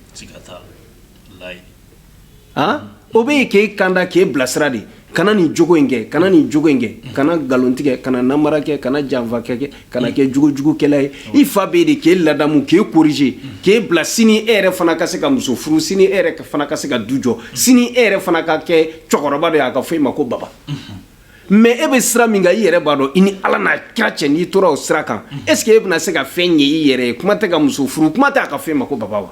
o bɛ yen k'e kanda k'e bilasira de kana nin jogo in kɛ kana nin jogo in kɛ kana nkalontigɛ kana nanbara kɛ kana janfa kɛ kana kɛ kojugukɛla ye i fa bɛ yen de k'e ladamu k'e corriger k'e bila sini e yɛrɛ fana ka se ka muso furu sini e yɛrɛ fana ka se ka du jɔ sini e yɛrɛ fana ka kɛ cɛkɔrɔba de y'a ka fɔ i ma ko baba mɛ e bɛ sira min i yɛrɛ b'a dɔn i ni ala n'a kira cɛ n'i tora o sira kan est-ce que e bɛna se ka fɛn ɲɛ i yɛrɛ ye kuma tɛ ka muso furu kuma tɛ' ka fɔ e ma ko baba wa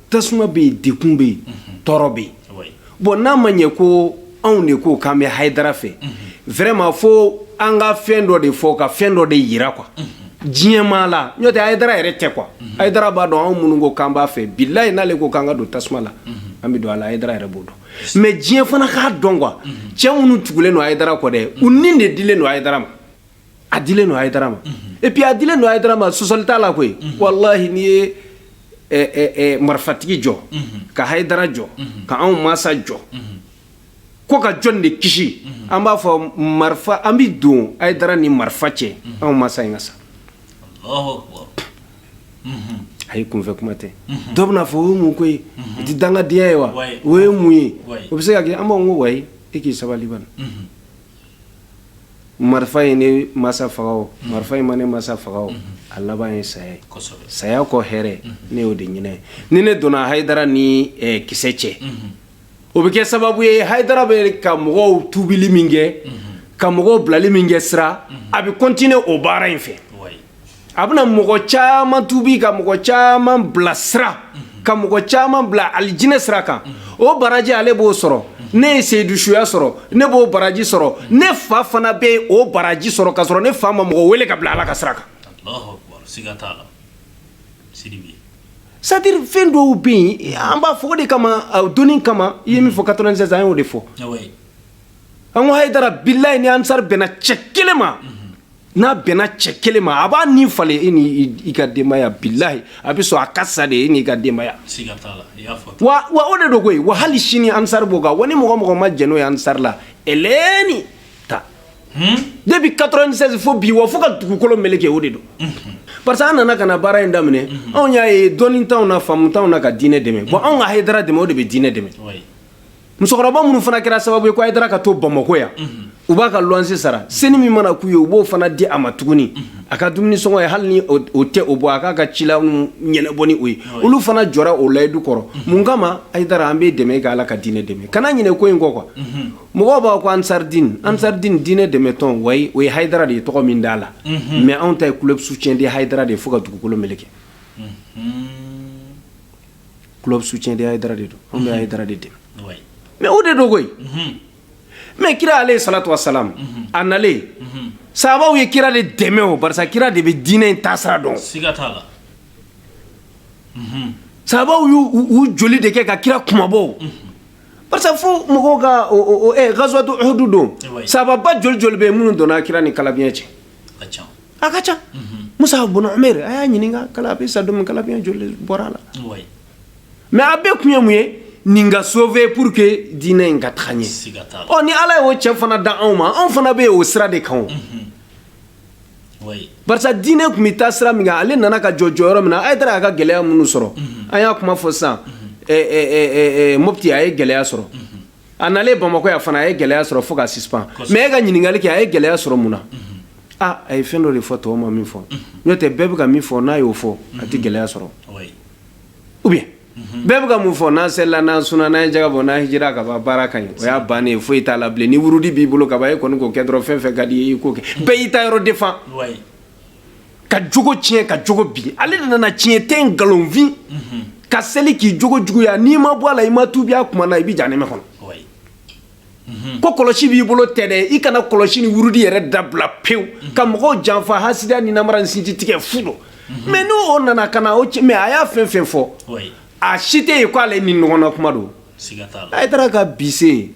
tasuma bɛ yen degun bɛ yen tɔɔrɔ bɛ yen bon n'a ma ɲɛ ko anw de ko k'an bɛ Haidara fɛ vraiment fo an ka fɛn dɔ de fɔ ka fɛn dɔ de jira diɲɛmaa la n'o tɛ Haidara yɛrɛ tɛ kuwa Haidara b'a dɔn anw minnu ko k'an b'a fɛ bilahi n'ale ko k'an ka don tasuma la an bɛ don a Haidara yɛrɛ b'o dɔn mais diɲɛ fana k'a dɔn que cɛ minnu tugulen don Haidara kɔ dɛ u ni de dilen don Haidara ma a dilen don Haidara ma et puis a dilen don Haidara ma sɔsɔli t'a la koyi walahi n'i ye marifatigi jɔ ka Haidara jɔ ka anw masa jɔ ko ka jɔni de kisi an b'a fɔ marifa an bɛ don Haidara ni marifa cɛ anw masa in ka sa ayi kunfɛ kuma tɛ dɔ bɛn'a fɔ o ye mun ko ye o tɛ dangadenya ye wa o ye mun ye o bɛ se ka kɛ an b'a fɔ ko wayi e k'i sabali bani marifa ye ne masa faga marifa in ma ne masa faga a laban ye saya saya kɔ hɛrɛ ne y'o de ɲinin ni ne donna Haidara ni kisɛ cɛ o bɛ kɛ sababu ye Haidara bɛ ka mɔgɔw tubili min kɛ ka mɔgɔw bilali min kɛ sira a bɛ continuer o baara in fɛ a bɛna mɔgɔ caman tubi ka mɔgɔ caman bila sira ka mɔgɔ caman bila alijinɛ sira kan o baraji ale b'o sɔrɔ ne ye sahiduya sɔrɔ ne b'o baraji sɔrɔ ne fa fana bɛ yen o baraji sɔrɔ ka sɔrɔ ne fa ma mɔgɔ wele ka bila ala ka sira kan c'est-à-dire fɛn dɔw bɛ yen an b'a fɔ de kama doni kama i ye min fɔ katɔ sisan an y'o de fɔ an ko Haidara bilahi ni ansari bɛnna cɛ kelen ma n'a bɛnna cɛ kelen ma a b'a ni falen e ni i ka denbaya bilahi a bɛ sɔn a ka sa de e n'i ka denbaya wa wa o de don koyi wa hali sini ansari b'o kan wa ni mɔgɔ o mɔgɔ ma jɛn'o ye ansari la eleni ta hmm? depuis 96 fo bi wa fo ka dugukolo meleke o de don mhm. parce que an nana ka na baara in daminɛ mhm. anw y'a ye dɔnni t'anw na faamu t'anw na ka diinɛ dɛmɛ bon anw ka hayidara dɛmɛ o de bɛ diinɛ dɛmɛ musokɔrɔba minnu fana kɛra sababu ye ko Haidara ka to bamakɔ yan u b'a ka luwanse sara senin min mana k'u ye u b'o fana di a ma tuguni a ka dumuni sɔngɔ ye hali ni o tɛ o bɔ a k'a ka cila ɲɛnabɔ ni o ye olu fana jɔra o layidu kɔrɔ mun kama Haidara an bɛ dɛmɛ kɛ ala ka diinɛ dɛmɛ kana ɲinɛ ko in kɔ que mɔgɔ b'a ko ansaridiini ansaridini diinɛ dɛmɛ tɔn wa o ye Haidara de ye tɔgɔ min d'a la mais anw ta ye club soutien de Haidara de ye fo ka dugukolo meleke club soutien de Haïdara de don anw bɛ Haïdara de dɛmɛ mais o de don koyi mais kira alayhi salatu wa salam a nalen sahabaw ye kira de dɛmɛ o barisa kira de bɛ diinɛ in taasira dɔn siga t'a la sahabaw y'u u joli de kɛ ka kira kunmabɔ barisa fo mɔgɔw ka o o ɛ gazwatu uhudu don sahababa joli joli bɛ yen minnu donna kira ni kalabiɲɛ cɛ ka ca musa bɔn a y'a ɲininka kala sa kalabiyan joli bɔra a la mais a bɛɛ tun ye mun ye nin ka sofɛ pour que diinɛ in ka taga ɲɛ ɔ ni ala y'o cɛ fana da anw ma anw fana bɛ yen o sira de kan parce que diinɛ tun bɛ taa sira min ale nana ka jɔ jɔyɔrɔ min na ayidara y'a ka gɛlɛya minnu sɔrɔ an y'a kuma fɔ sisan mɔti a ye gɛlɛya sɔrɔ a nalen bamakɔ yan fana a ye gɛlɛya sɔrɔ fo k'a suspend mais e ka ɲininkali kɛ a ye gɛlɛya sɔrɔ mun na a a ye fɛn dɔ de fɔ tɔw ma min fɔ n'o tɛ bɛɛ bɛ ka min fɔ n'a y'o fɔ a tɛ gɛlɛya sɔrɔ ou bien bɛɛ bɛ ka mun fɔ n'an selila n'an sunna n'an ye jaga bɔ n'an hijira ka ban baara ka ɲi o y'a bannen ye foyi t'a la bilen ni wurudi b'i bolo ka ban e kɔni k'o kɛ dɔrɔn fɛn fɛn ka di ye i k'o kɛ bɛɛ y'i ta yɔrɔ défend ka jogo tiɲɛ ka jogo bin ale de nana tiɲɛ tɛ nkalonfin ka seli k'i jogo juguya n'i ma bɔ a la i ma tubi a kuma na i bɛ jahanama kɔnɔ mhm. ko kɔlɔsi b'i bolo tɛ dɛ i kana kɔlɔsi ni wurudi yɛrɛ dabila pewu mhm. ka mɔgɔw janfa hasidiya ni namara ni sinji tigɛ fu don mhm. mais n'o o nana ka na o mɛ a y'a fɛn fɛn fɔ a si tɛ yen k'ale ni ɲɔgɔnna kuma don ayidara ka bise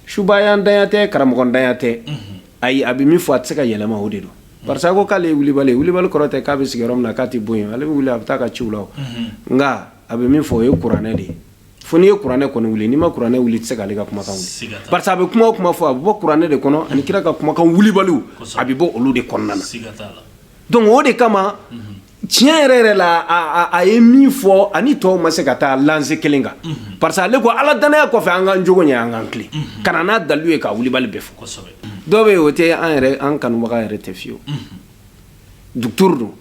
subayadanya tɛ karamɔgɔdanya tɛ ayi a bɛ min fɔ a tɛ se ka yɛlɛma o de don parce que k'ale wulibali wulibali kɔrɔ tɛ k'a bɛ sigiyɔrɔ min na k'a tɛ bɔ yen ale bɛ wuli a bɛ taa a ka ci la nka a bɛ min fɔ o ye kuranɛ de ye fo n'i ye kuranɛ kɔni wuli n'i ma kuranɛ wuli i tɛ se k'ale ka kumakan parce que a bɛ kuma kuma fɔ a bɛ bɔ kuranɛ de kɔnɔ ani kira ka kumakan wulibali a bɛ bɔ olu de kɔnɔna na donc o de kama tiɲɛ yɛrɛ yɛrɛ la a ye min fɔ ani tɔw ma se ka taa lancée kelen kan parce que ale ko ala danaya kɔfɛ an ka jogo ɲɛ an k'an tilen ka na n'a dalilu ye ka wulibali bɛ fɔ kosɛbɛ dɔw bɛ yen o tɛ an yɛrɛ an kanubaga yɛrɛ tɛ fiyewu docteur don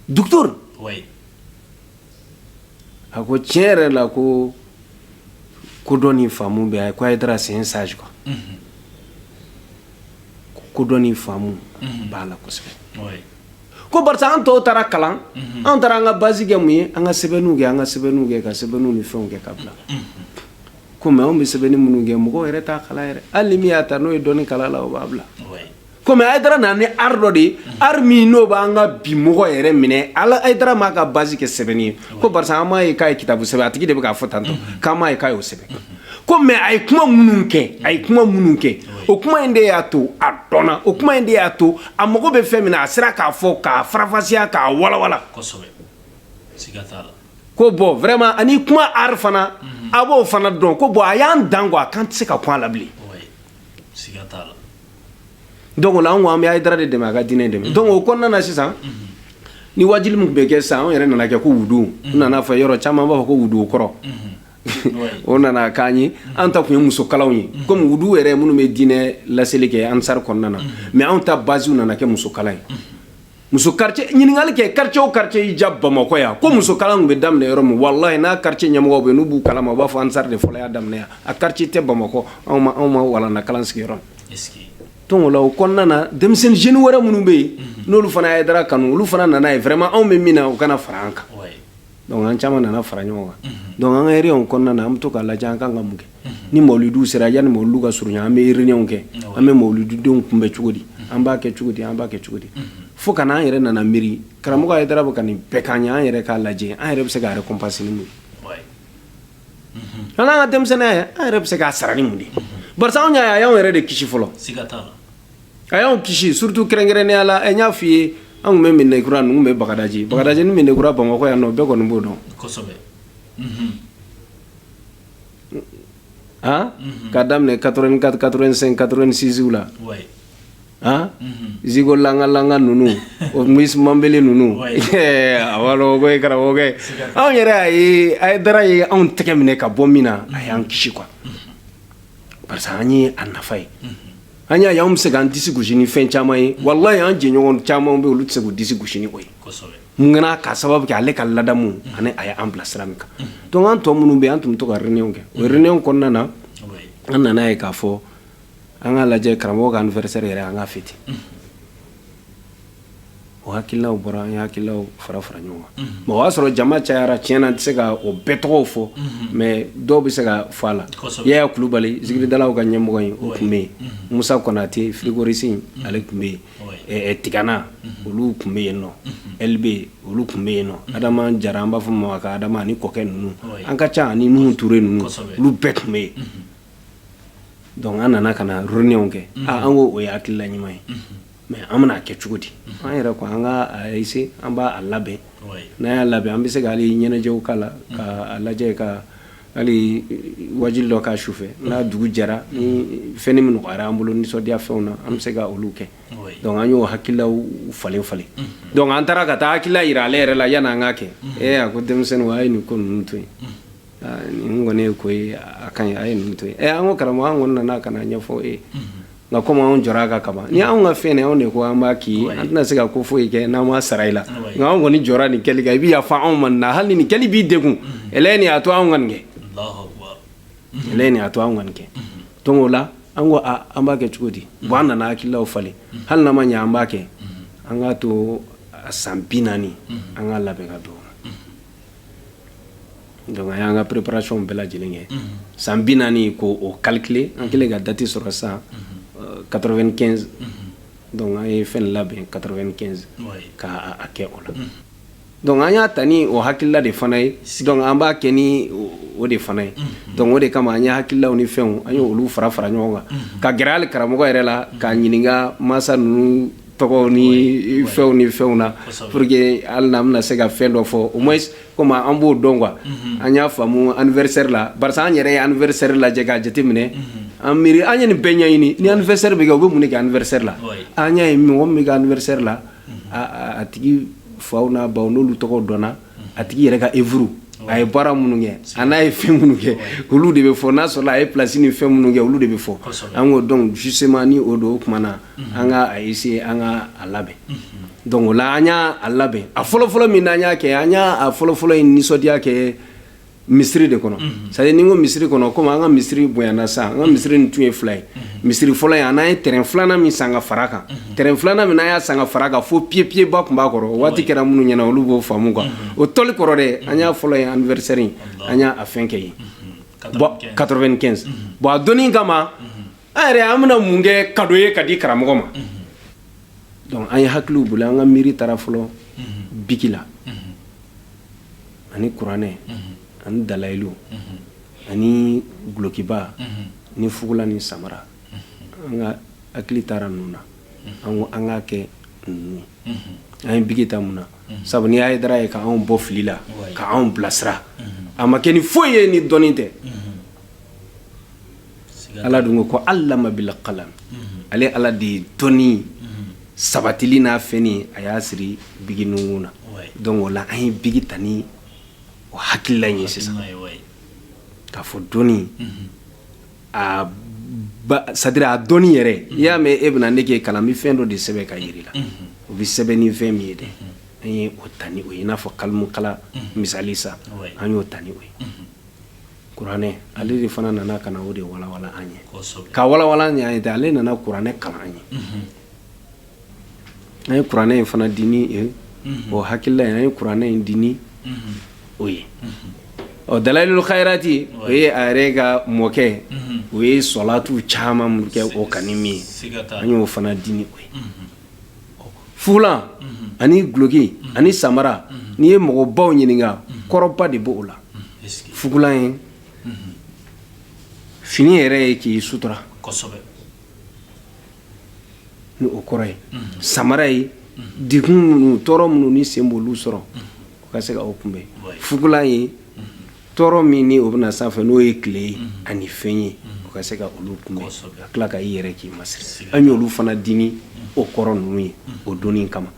docteur a ko tiɲɛ yɛrɛ la ko kodɔn ni faamu bɛ a ye ko ayidara c'est un sage quoi kodɔn ni faamu b'a la kosɛbɛ Ko parce que an tɔw taara kalan an taara an ka base kɛ mun ye an ka sɛbɛnni kɛ an ka sɛbɛnni kɛ ka sɛbɛnni ni fɛnw kɛ ka bila kɔmi anw bɛ sɛbɛnni minnu kɛ mɔgɔ yɛrɛ t'a kalan yɛrɛ hali min y'a ta n'o ye dɔɔnin kalan a la o b'a bila kɔmi ayidara nana ni dɔ de ye min n'o b'an ka bi mɔgɔ yɛrɛ minɛ ale ayidara m'a ka base kɛ sɛbɛnni ye ko parce que an m'a ye k'a ye kitabu sɛbɛn a tigi de bɛ k'a fɔ tantɔ'a ye k'a y'o sɛbɛn ko mais a ye kuma minnu kɛ a ye kuma minnu kɛ o kuma in de y'a to a dɔn o kuma in de y'a to a mago bɛ fɛn min a sera k'a fɔ k'a faranfasiya k'a walawala ko bon vraiment ani kuma art fana a b'o fana dɔn ko bon a y'an dan a kan tɛ se ka kuma la bilen don an ko an bɛ ayidara de dɛmɛ a ka diinɛ dɛmɛ don o kɔnɔna nana sisan ni wajibi min bɛ kɛ san an yɛrɛ nana kɛ ko wudenw nana fɔ yɔrɔ caman b'a fɔ ko wudu kɔrɔ o nana k'an ye an ta tun ye musokalaw ye komi wudu yɛrɛ minnu bɛ diinɛ laseli kɛ ansari kɔnɔna na mɛ anw ta basiw nana kɛ musokala ye muso ɲininkali kɛ karicɛw karicɛ y'i ja bamakɔ yan ko musokala bɛ daminɛ yɔrɔ min wala ye n'a karicɛ ɲɛmɔgɔ bɛ n'u b'u kala u b'a fɔ ansari de fɔlɔ y'a daminɛ a kari tɛ bamakɔ anw ma anw ma walalakala sigiyɔrɔ tola o kɔnɔna na denmisɛnnin wɛrɛ minnu bɛ yen n'olu fana hayidara kanu olu fana nana ye vraiment anw bɛ min na u ka na fara an kan Dɔnku an caman nana fara ɲɔgɔn kan dɔnku an carré kɔnɔna na an bɛ to ka lajɛ an kan ka mun kɛ ni mawlidu sera yan ni mawlidu ka surun an bɛ réunion kɛ an bɛ mawlidu in tɛmɛ cogo di an b'a kɛ cogo di an b'a kɛ cogo di fo ka na an yɛrɛ nana miiri karamɔgɔ hayidara bɛ ka nin bɛɛ k'an ye an yɛrɛ k'a lajɛ an yɛrɛ bɛ se ka récompense mun an ka denmisɛnnin an yɛrɛ bɛ se k'a sara ni mun de ye anw y' y' anw yɛrɛ de kisi fɔlɔ a y'an kisi surtout kɛrɛnkɛrɛnnenya la an y'a f'i ye an tun bɛ medinakura ninnu bɛ bagadaji bagadaji ni medinakura bamakɔ yan nɔ bɛɛ kɔni b'o dɔn kosɛbɛ ka daminɛ 84 85 86 la han zaiko langa langa ninnu o mis manbele ninnu a b'a dɔn ko karamɔgɔkɛ anw yɛrɛ a ye hayidara ye anw tɛgɛ minɛ ka bɔ min na a y'an kisi quoi parce que an ye a nafa ye an y'a y'an bɛ se k'an disi gosi ni fɛn caman ye walayi an jɛɲɔgɔn caman bɛ olu tɛ se k'u disi gosi ni o ye mun kana k'a sababu kɛ ale ka ladamu ani a y'an bila sira min kan donc an tɔ minnu bɛ an tun bɛ to ka réunion kɛ o réunion kɔnɔna na an nana ye k'a fɔ an ka lajɛ karamɔgɔ ka anniversaire yɛrɛ an k'a fêter o hakililaw bɔra an ye hakililaw fara fara ɲɔgɔn kan bon o y'a sɔrɔ jama cayara tiɲɛ na n tɛ se ka o bɛɛ tɔgɔ fɔ mɛ dɔw bɛ se ka fɔ alayi kulubali zidalaw ka ɲɛmɔgɔ in o tun bɛ yen musa konate fikorisi ale tun bɛ yen tigana olu tun bɛ yen nɔ e bɛ yen olu tun bɛ yen nɔ adama jara an b'a fɔ ma ko adama an kɔkɛ ninnu an ka ca ani minnu tu ninnu olu bɛɛ tun bɛ yen dɔnku an nana ka na réunion kɛ an ko o ye hakilila ɲuman ye mɛ an bɛna a kɛ cogo di an yɛrɛ ko an kase an b'a labɛn n'a y'a labɛn an bɛ se k'ale ɲɛnajɛw ka la ka lajɛ ka hali waati dɔ ka su fɛ n'a dugu jɛra ni fɛn min nɔgɔyara an bolo nisɔndiya fɛnw na an bɛ se ka olu kɛ dɔnku an y'o hakilila falen falen dɔnku an taara ka taa hakilila jira ale yɛrɛ la yan n'an ka kɛ ee a ko denmisɛnnin a ye nin ko ninnu to yen nin kɔni ye ko a ka a ye nin to an ko karamɔgɔ an kɔni nana ka n'a ɲɛfɔ e nka kɔmi anw jɔra a kan kaban ni anw ka fɛn anw de ko an b'a k'i an tɛna se ka ko foyi kɛ n'an ma sara i la nka anw kɔni jɔra nin kɛli kan i bɛ yafa anw ma na hali n'a kɛli b'i degun ɛlɛyi nin a to anw ka nin kɛ ɛlɛyi nin a to anw ka nin kɛ donc o la an ko a an b'a kɛ cogo di bon an nana hakililaw falen hali n'a ma ɲɛ an b'a kɛ an k'a to san bi naani an k'a labɛn ka don Donc an y'an ka préparation bɛɛ lajɛlen kɛ san bi naani k'o calculer an kɛlen ka date sɔrɔ sisan 95 donc an ye fɛn labɛn 95 ka a kɛ o la donc an y'a ta ni o hakilila de fana ye donc an b'a kɛ ni o de fana ye donc o de kama an ye hakililaw ni fɛnw an ye olu fara fara ɲɔgɔn kan ka gɛrɛ hali karamɔgɔ yɛrɛ la k'a ɲininka mansa ninnu tɔgɔ ni fɛnw ni fɛnw na pour que hali n'an bɛna se ka fɛn dɔ fɔ au moins comme an b'o dɔn quoi an y'a faamu anniversaire la barisa an yɛrɛ ye anniversaire lajɛ k'a jateminɛ an miiri an ye nin bɛɛ ɲɛɲini ni anniversaire bɛ kɛ u bɛ mun de kɛ anniversaire la an y'a ye mɔgɔ min bɛ kɛ anniversaire la a tigi faw n'a baw n'olu tɔgɔ dɔnna a tigi yɛrɛ ka œuvre a ye baara minnu kɛ a n'a ye fɛn minnu kɛ olu de bɛ fɔ n'a sɔrɔ a ye place ni fɛn minnu kɛ olu de bɛ fɔ an ko donc justement ni o don o tuma na an ka a essayer an ka a labɛn donc o la an y'a a labɛn a fɔlɔfɔlɔ min n'an y'a kɛ an y'a a fɔlɔfɔlɔ in nisɔndiya kɛ misiri de kɔnɔ c'est à dire ni n ko misiri kɔnɔ komi an ka misiri bonyana sisan an ka misiri nin tun ye fila ye misiri fɔlɔ ye an n'an ye terrain filanan min san ka fara kan terrain filanan min n'an y'a san ka fara kan fo piyepiyeba tun b'a kɔrɔ o waati kɛra minnu ɲɛna olu b'o faamu quoi o tɔli kɔrɔ dɛ an y'a fɔlɔ ye anniversaire in an y'a a fɛn kɛ yen bon 95 bon a donnin kama an yɛrɛ an bɛna mun kɛ kado ye ka di karamɔgɔ ma donc an ye hakiliw boli an ka miiri taara fɔlɔ biki la ani kuranɛ ani dalayilu ani gulokiba ni fugula ni samara an ka hakili taara ninnu na an ko an k'a kɛ ninnu an ye biki ta mun na sabu ni Hayidara ye ka anw bɔ fili la ka anw bilasira a ma kɛ ni foyi ye ni dɔnni tɛ ala dun ko ko allama bil kalam ale ala de ye dɔnni sabatili n'a fɛn a y'a siri biki nunkun na donc o la an ye biki ta ni o hakilila ye sisan k'a fɔ dɔnni c'est à dire dɔnni yɛrɛ i y'a mɛn e bɛ na ne k'e kalan n bɛ fɛn dɔ de sɛbɛn k'a jira i la o bɛ sɛbɛn ni fɛn min ye dɛ an ye o ta ni o ye n'a fɔ kalimukala misali sa an y'o ta ni o ye kuranɛ ale de fana nana ka na o de walawala an ye ka walawala ɲɛ ye tɛ ale nana kuranɛ kalan an ye an ye kuranɛ in fana di ni o hakilila ye an ye kuranɛ in di ni o ye ɔ dalayilu hayirati o ye a yɛrɛ ka mɔkɛ o ye sɔlatu caman minnu kɛ o kani min ye an y'o fana di ni o ye fugulan ani duloki ani samara n'i ye mɔgɔbaw ɲininka kɔrɔba de b'o la fugulan ye fini yɛrɛ ye k'i sutura ni o kɔrɔ ye samara ye degun minnu tɔɔrɔ minnu ni sen b'olu sɔrɔ u ka se ka o kunbɛn fugulan ye tɔɔrɔ min ni o bɛ na sanfɛ n'o ye tile ye ani fɛn ye o ka se ka olu kun a tila ka i yɛrɛ k'i ma an y'olu fana dimi o kɔrɔ ninnu ye o don kama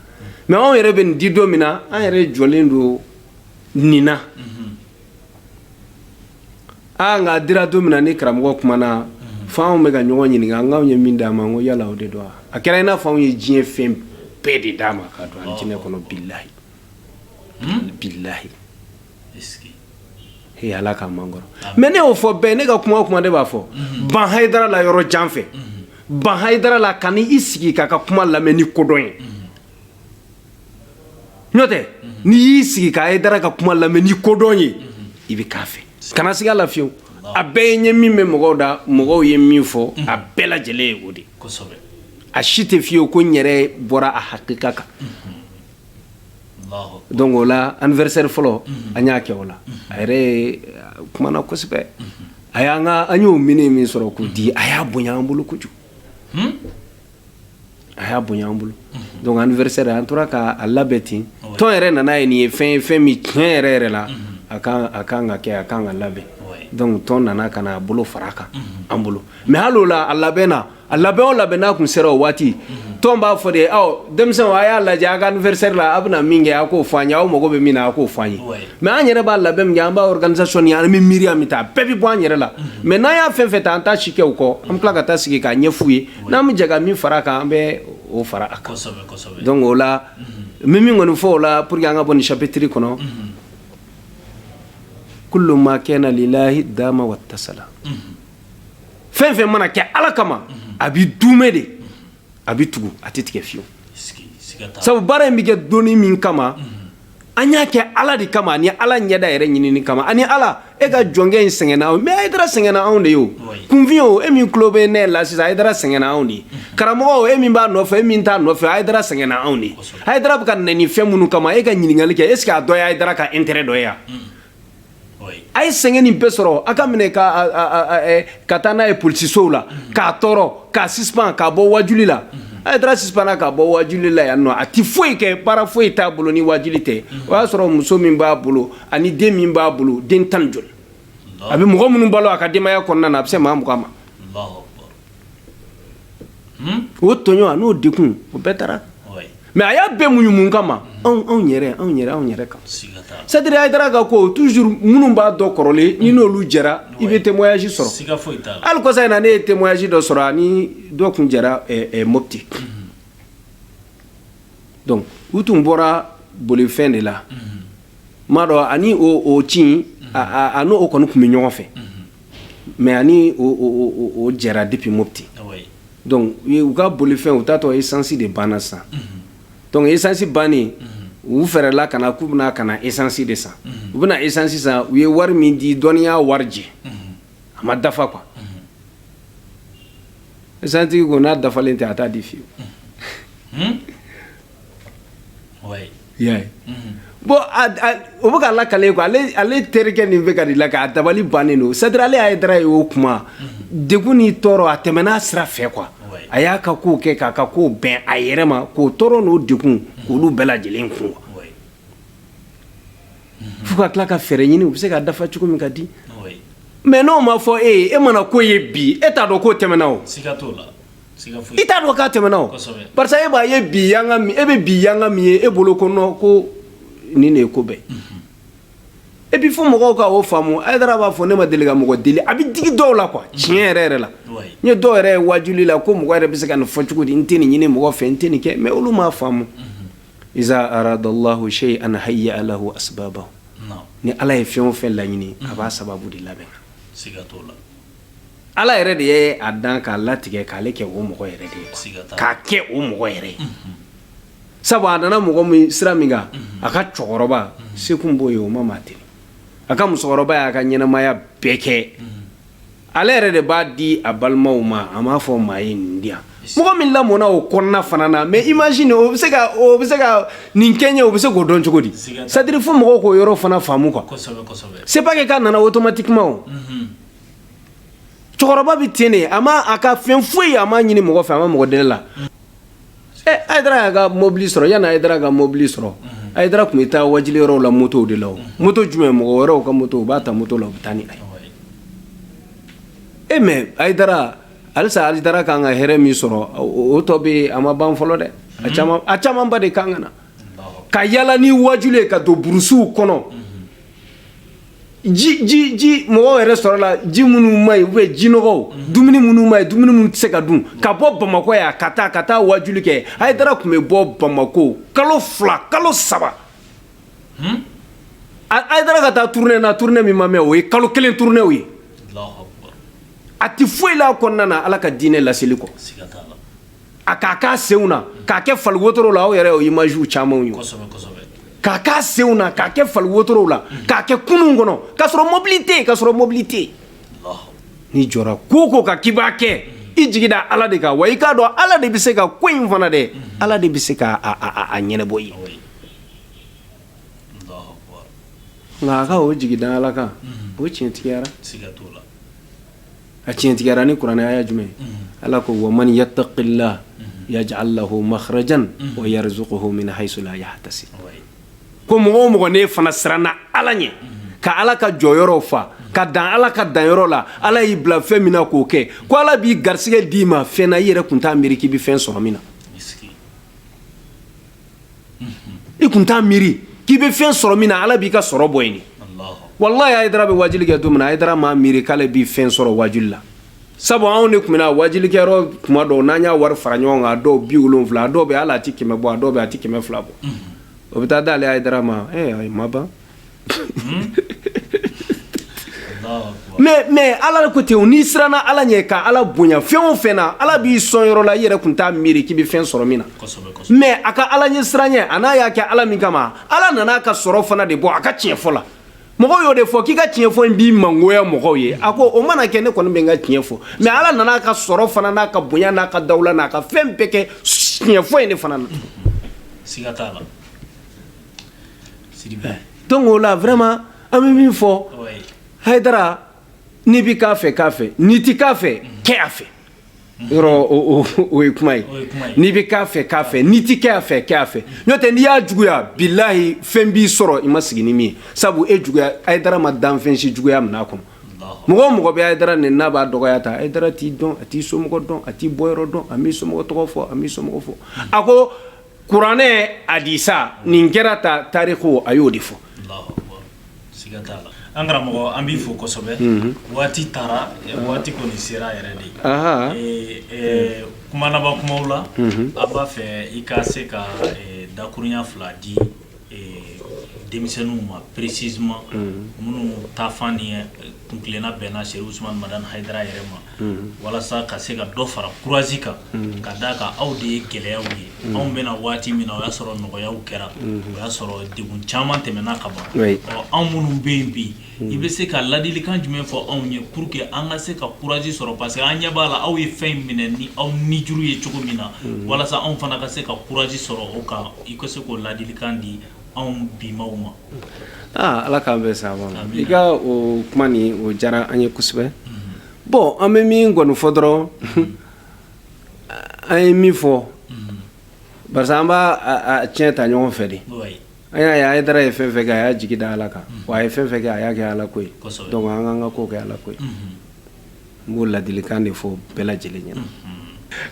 mɛ anw yɛrɛ bɛ nin di don min na an yɛrɛ jɔlen don nin na aa nka dira don min na ni karamɔgɔ kumana fo anw bɛ ka ɲɔgɔn ɲininka an anw ye min d'a ma ko yala o de don a kɛra i n'a fɔ anw ye diɲɛ fɛn bɛɛ de d'a ma ka don alijinɛ kɔnɔ bilayi bilayi ala kama n kɔrɔ mɛ ne y'o fɔ bɛɛ ne ka kuma kuma ne b'a fɔ mhm. ban hayidara la yɔrɔ jan fɛ mhm. ban hayidara la ka i sigi k'a ka kuma lamɛn ni kodɔn ye mhm. n'o tɛ n'i y'i sigi ka hayidara ka kuma lamɛn ni kodɔn ye i bɛ k'a fɛ kana siga la fiyewu a bɛɛ ye ɲɛ min bɛ mɔgɔw da mɔgɔw ye min fɔ a bɛɛ lajɛlen ye o de a si tɛ fiyewu ko n yɛrɛ bɔra a hakika kan Donc o la anniversaire fɔlɔ an y'a kɛ o la a yɛrɛ kumana kosɛbɛ a y'an ka an y'o minɛ min sɔrɔ k'o di a y'a bonya an bolo kojugu a y'a bonya an bolo donc anniversaire an tora k'a labɛn ten tɔn yɛrɛ nana a ye nin ye fɛn ye fɛn min tiɲɛ yɛrɛ yɛrɛ la a ka kan ka kɛ a ka kan ka labɛn donc tɔn nana ka na a bolo fara a kan an bolo mɛ' la a labɛnna a labɛn o labɛn n'a tun sera o waati tɔn b'a fɔ de ye aw denmisɛnw a y'a lajɛ a ka anniversaire la a bɛna min kɛ a k'o fɔ an ye aw mago bɛ min na a k'o fɔ an ye mais an yɛrɛ b'a labɛn min kɛ an b'a organisation ni an bɛ miiri an bɛ taasi bɛɛ bɛ bɔ an yɛrɛ la mais n'an y'a fɛn fɛn ta an t'a si kɛ u kɔ an bɛ tila ka taa sigi k'a ɲɛf'u ye n'an bɛ jɛ ka min fara a kan an bɛ o fara a kan donc o la n bɛ min kɔni fɔ o la pour que an ka bɔ nin chapitre kɔnɔ kullu ma kana lilahi dama wa tasala fɛn fɛn mana kɛ ala kama a bɛ duumɛ de a bɛ tugu a tɛ tigɛ fiyewu sabu baara in bɛ kɛ doni min kama an y'a kɛ ala de kama ani ala ɲɛda yɛrɛ ɲinini kama ani ala e ka jɔnkɛ in sɛgɛnna mɛ hayidara sɛgɛnna anw de ye o kunfin o e min tulo bɛ ne la sisan hayidara sɛgɛnna anw de ye karamɔgɔ o e min b'a nɔfɛ e min t'a nɔfɛ hayidara sɛgɛnna anw de ye hayidara bɛ ka nɛni fɛn minnu kama e ka ɲininkali kɛ est ce que a dɔ ye hayidara ka intérêt dɔ ye wa a ye sɛgɛn nin bɛɛ sɔrɔ a k'a minɛ ka taa n'a ye polisisow la k'a tɔɔrɔ k'a suspendre k'a bɔ wajuli la hayidara suspendre k'a bɔ wajuli la yan nɔ a tɛ foyi kɛ baara foyi t'a bolo ni wajuli tɛ o y'a sɔrɔ muso min b'a bolo ani den min b'a bolo den tan ɲɔgɔn a bɛ mɔgɔ minnu balo a ka denbaya kɔnɔna a bɛ se maa mugan ma Hmm? o tɔɲɔ ani o degun o bɛɛ taara mais a y'a bɛɛ muɲu mun kama anw anw yɛrɛ anw yɛrɛ anw yɛrɛ kan c'est-à-dire a taara ka ko toujours minnu b'a dɔn kɔrɔlen ni n'olu jɛra i bɛ témoignage sɔrɔ hali kɔsa in na ne ye témoignage dɔ sɔrɔ a ni dɔ kun jɛra eh, eh, mopti mhm. donc u tun bɔra bolifɛn de la mhm. m'a dɔn ani o o ci mhm. a n'o kɔni tun bɛ ɲɔgɔn fɛ Mais a ni o jɛra depuis mopti u ka bolifɛn u taatɔ isansi de banna sa donc isansi bannen u fɛɛrɛla ka na k'u bɛna ka na isansi de san u bɛna na isansi san u ye wari min di dɔnniya warijɛ a ma dafa quoi isansitigi ko n'a dafalen tɛ a t'a di fewu y'a ye bon o bɛ k'a lakali quoi ale terikɛ nin bɛ ka la ka a dabali bannen don c'est-à-dire ale ayidara ye o kuma degun ni tɔɔrɔ a tɛmɛna sira fɛ quoi a y'a ka ko kɛ k'a ka ko bɛn a yɛrɛ ma k'o tɔɔrɔ n'o degun k'olu bɛɛ lajɛlen kun fo ka tila ka fɛɛrɛ ɲini u bɛ se ka dafa cogo min k'a di mais n'o ma fɔ e e mana ko ye bi e t'a dɔn k'o tɛmɛna o i t'a dɔn k'a tɛmɛna o parce que e b'a ye bi yanga min e bɛ bi yanga min ye e bolo kɔnɔ ko nin de ye ko bɛɛ et puis fo mɔgɔw k'o faamu ayidara b'a fɔ ne ma deli ka mɔgɔ deli a bɛ digi dɔw la quoi tiɲɛ yɛrɛ yɛrɛ la n ye dɔw yɛrɛ ye waajuli la ko mɔgɔ yɛrɛ bɛ se ka nin fɔ cogo di n tɛ nin ɲini mɔgɔ fɛ n tɛ nin kɛ mais olu m'a faamu iza aradallahu shay'an hayya lahu asbabahu ni ala ye fɛn o fɛn laɲini a b'a sababu de labɛn siga t'o la ala yɛrɛ de ye a dan k'a latigɛ k'ale kɛ o mɔgɔ yɛrɛ de ye k'a kɛ o mɔgɔ yɛrɛ ye sabu a nana mɔgɔ min sira min kan a ka cɛkɔrɔba se kun b'o ye o ma maa ten a ka musokɔrɔba y'a ka ɲɛnɛmaya bɛɛ kɛ ale yɛrɛ de b'a di a balimaw ma a m'a fɔ maa ye nin di yan mɔgɔ min lamɔna o kɔnɔna fana na mais imagine o bɛ se ka o bɛ se ka nin kɛ ɲɛ o bɛ se k'o dɔn cogo di c'est-à-dire fo mɔgɔw k'o yɔrɔ fana faamu quoi c'est pas que k'a nana automatiquement cɛkɔrɔba bɛ ten de a ma a ka fɛn foyi a ma ɲini mɔgɔ fɛ a ma mɔgɔ deli la ɛ a yɛrɛ y'a ka mobili sɔrɔ yanni a yɛrɛ ka mobili sɔrɔ a yɛrɛ tun bɛ taa waajuli yɔrɔw la motow de la moto jumɛn mɔgɔ wɛrɛw ka moto u b'a ta moto la u bɛ taa ni a ye e mais ayidara halisa ayidara kan ka hɛrɛ min sɔrɔ o tɔ bɛ a ma ban fɔlɔ dɛ a camanba de kan ka na ka yaala ni waajuli ye ka don burusiw kɔnɔ Ji ji ji mɔgɔw yɛrɛ sɔrɔ la ji minnu man ɲi u bɛ jinɔgɔw dumuni minnu man ɲi dumuni minnu tɛ se ka dun ka bɔ bamakɔ yan ka taa ka taa wajuli kɛ hayidara tun bɛ bɔ bamakɔ kalo fila kalo saba hayidara ka taa turune na turune min ma mɛ o ye kalo kelen turunew ye a tɛ foyi la kɔnɔna ala ka diinɛ laseli kɔ a k'a k'a senw na k'a kɛ fali wotoro la aw yɛrɛ o imagew camanw ye k'a k'a senw na k'a kɛ fali wotorow la k'a kɛ kurunw kɔnɔ k'a sɔrɔ mobili tɛ yen k'a sɔrɔ mobili tɛ yen n'i jɔra ko o ko kan k'i b'a kɛ i jigi da ala de kan wa i k'a dɔn ala de bɛ se ka ko in fana dɛ ala de bɛ se ka a ɲɛnabɔ i ye nka a ka o jigi da ala kan o tiɲɛtigiyara a tiɲɛtigiyara ni kuranɛ aya jumɛn ala ko wa man yattaqillah yaj'al lahu makhrajan wa yarzuquhu min haythu la yahtasib ko mɔgɔ o mɔgɔ n'i fana siranna ala ɲɛ ka ala ka jɔyɔrɔw fa ka dan ala ka danyɔrɔ la ala y'i bila fɛn min na k'o kɛ ko ala b'i garisigɛ d'i ma fɛn na i yɛrɛ kun t'a miiri k'i bɛ fɛn sɔrɔ min na i tun t'a miiri k'i bɛ fɛn sɔrɔ min na ala b'i ka sɔrɔ bɔ yen walayi hayidara bɛ wajuli kɛ don min hayidara m'a miiri k'ale bɛ fɛn sɔrɔ wajuli la sabu anw de tun bɛ wajulikɛyɔrɔ tuma dɔw n'an y'a wari fara ɲɔgɔn kan dɔw bi wolon wolonwula dɔw bɛ ala a tɛ kɛmɛ bɔ a dɔw bɛ a tɛ kɛmɛ fila bɔ o bɛ taa d'ale hayidara ma a ma ban Ala ko ten n'i siranna ala ɲɛ ka ala bonya fɛn o fɛn ala b'i sɔn yɔrɔ la i yɛrɛ tun t'a miiri k'i bɛ fɛn sɔrɔ min na mɛ a ka alaɲɛsiran ɲɛ an'a y'a kɛ ala min kama ala nana a ka sɔrɔ fana de bɔ a ka tiɲɛ fɔ la mɔgɔ y'o de fɔ k'i ka tiɲɛ fɔ in b'i mangoya mɔgɔw ye a ko o mana kɛ ne kɔni bɛ n ka tiɲɛ fɔ mɛ ala nana a ka sɔrɔ fana n'a ka bonya n'a ka dawula n'a ka fɛn bɛɛ kɛ tiɲɛfɔ in de fana na Donc o la vraiment an bɛ min fɔ hayidara n'i bɛ k'a fɛ k'a fɛ n'i tɛ k'a fɛ kɛ a fɛ yɔrɔ o ye kuma ye n'i bɛ k'a fɛ k'a fɛ n'i tɛ k'a fɛ k'a fɛ n'o tɛ n'i y'a juguya bilayi fɛn b'i sɔrɔ i ma sigi ni min sabu e juguya hayidara ma danfɛn si juguya minɛ a kɔnɔ mɔgɔ o mɔgɔ bɛ hayidara neni n'a b'a dɔgɔya ta hayidara t'i dɔn a t'i somɔgɔ dɔn a t'i bɔ yɔrɔ dɔn a' somɔgɔ tɔgɔ fɔ a' somɔgɔw fɔ a ko kuranɛ hadisi ani kira ta tariku a y'o de fɔ an karamɔgɔ an b'i fo kosɛbɛ waati taara waati kɔni sera yɛrɛ de ye kuma laban kuma la an b'a fɛ i ka se ka dakurunya fila di denmisɛnninw ma précisément minnu taafan ni kun kelenna bɛnna serifu usumani madani hayidara yɛrɛ ma walasa ka se ka dɔ fara kurazi kan ka d'a kan aw de ye gɛlɛyaw ye anw bɛna waati min na o y'a sɔrɔ nɔgɔya kɛra o y'a sɔrɔ degun caman tɛmɛna ka ban anw minnu bɛ yen bi i bɛ se ka ladilikan jumɛn fɔ anw ye pour que an ka se ka courage sɔrɔ parce que an ɲɛ b'a la aw ye fɛn in minɛ ni aw nijuru ye cogo min na walasa anw fana ka se ka courage sɔrɔ o kan i ka se k'o ladilikan di anw bimaw ma. Aa Ala k'an bɛɛ sabati i ka o kuma nin o diyara an ye kosɛbɛ bon an bɛ min kɔni fɔ dɔrɔn an ye min fɔ barisa an b'a a tiɲɛ ta ɲɔgɔn fɛ de. An y'a ye hayidara ye fɛn o fɛn kɛ a y'a jigi da ala kan wa a ye fɛn o fɛn kɛ a y'a kɛ ala ko ye donc an k'an ka ko kɛ ala ko ye n b'o ladilikan de fɔ bɛɛ lajɛlen ɲɛna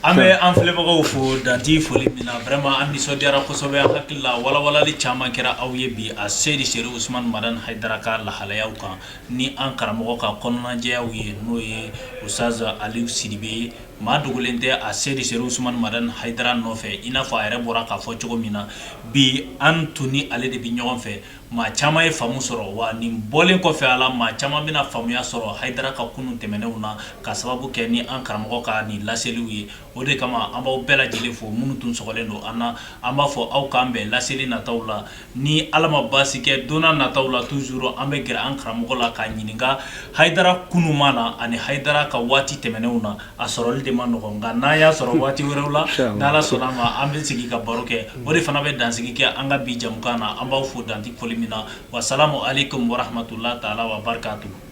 an bɛ an filɛbagaw fo dantɛ foli min na vraiment an nisɔndiyara kosɛbɛ an hakili la walawalali caman kɛra aw ye bi aseyidi serifu usumani madani hayidara ka lahalayaw kan ni an karamɔgɔ ka kɔnɔnajɛya ye n'o ye usutazi ali sidibe ye Maa dogolen tɛ aseyidi serifu usumani madani hayidara nɔfɛ i n'a fɔ a yɛrɛ bɔra k'a fɔ cogo min na bi an tun ni ale de bɛ ɲɔgɔn fɛ maa caman ye faamu sɔrɔ wa nin bɔlen kɔfɛ a la maa caman bɛna faamuya sɔrɔ hayidara ka kunun tɛmɛnenw na k'a sababu kɛ ni an karamɔgɔ ka nin laseliw ye o de kama an b'aw bɛɛ lajɛlen fo minnu tun sɔgɔlen don an na an b'a fɔ aw k'an bɛn laseli nataw la Ni ala ma basi kɛ don nataw la toujours an bɛ gɛrɛ an karamɔgɔ la k'a ɲininka hayidara kunun na ani hayidara ka waati tɛmɛnenw na a sɔrɔli de ma nɔgɔ nka n'an y'a sɔrɔ waati wɛrɛw la n'ala sɔnna a ma an bɛ sigi ka baro kɛ o de fana bɛ dansigi kɛ an ka bi jɛmukan na an b'aw fo dantɛ foli min na wa salamu aleykum wa rahmatullahi taala wa barakatuhu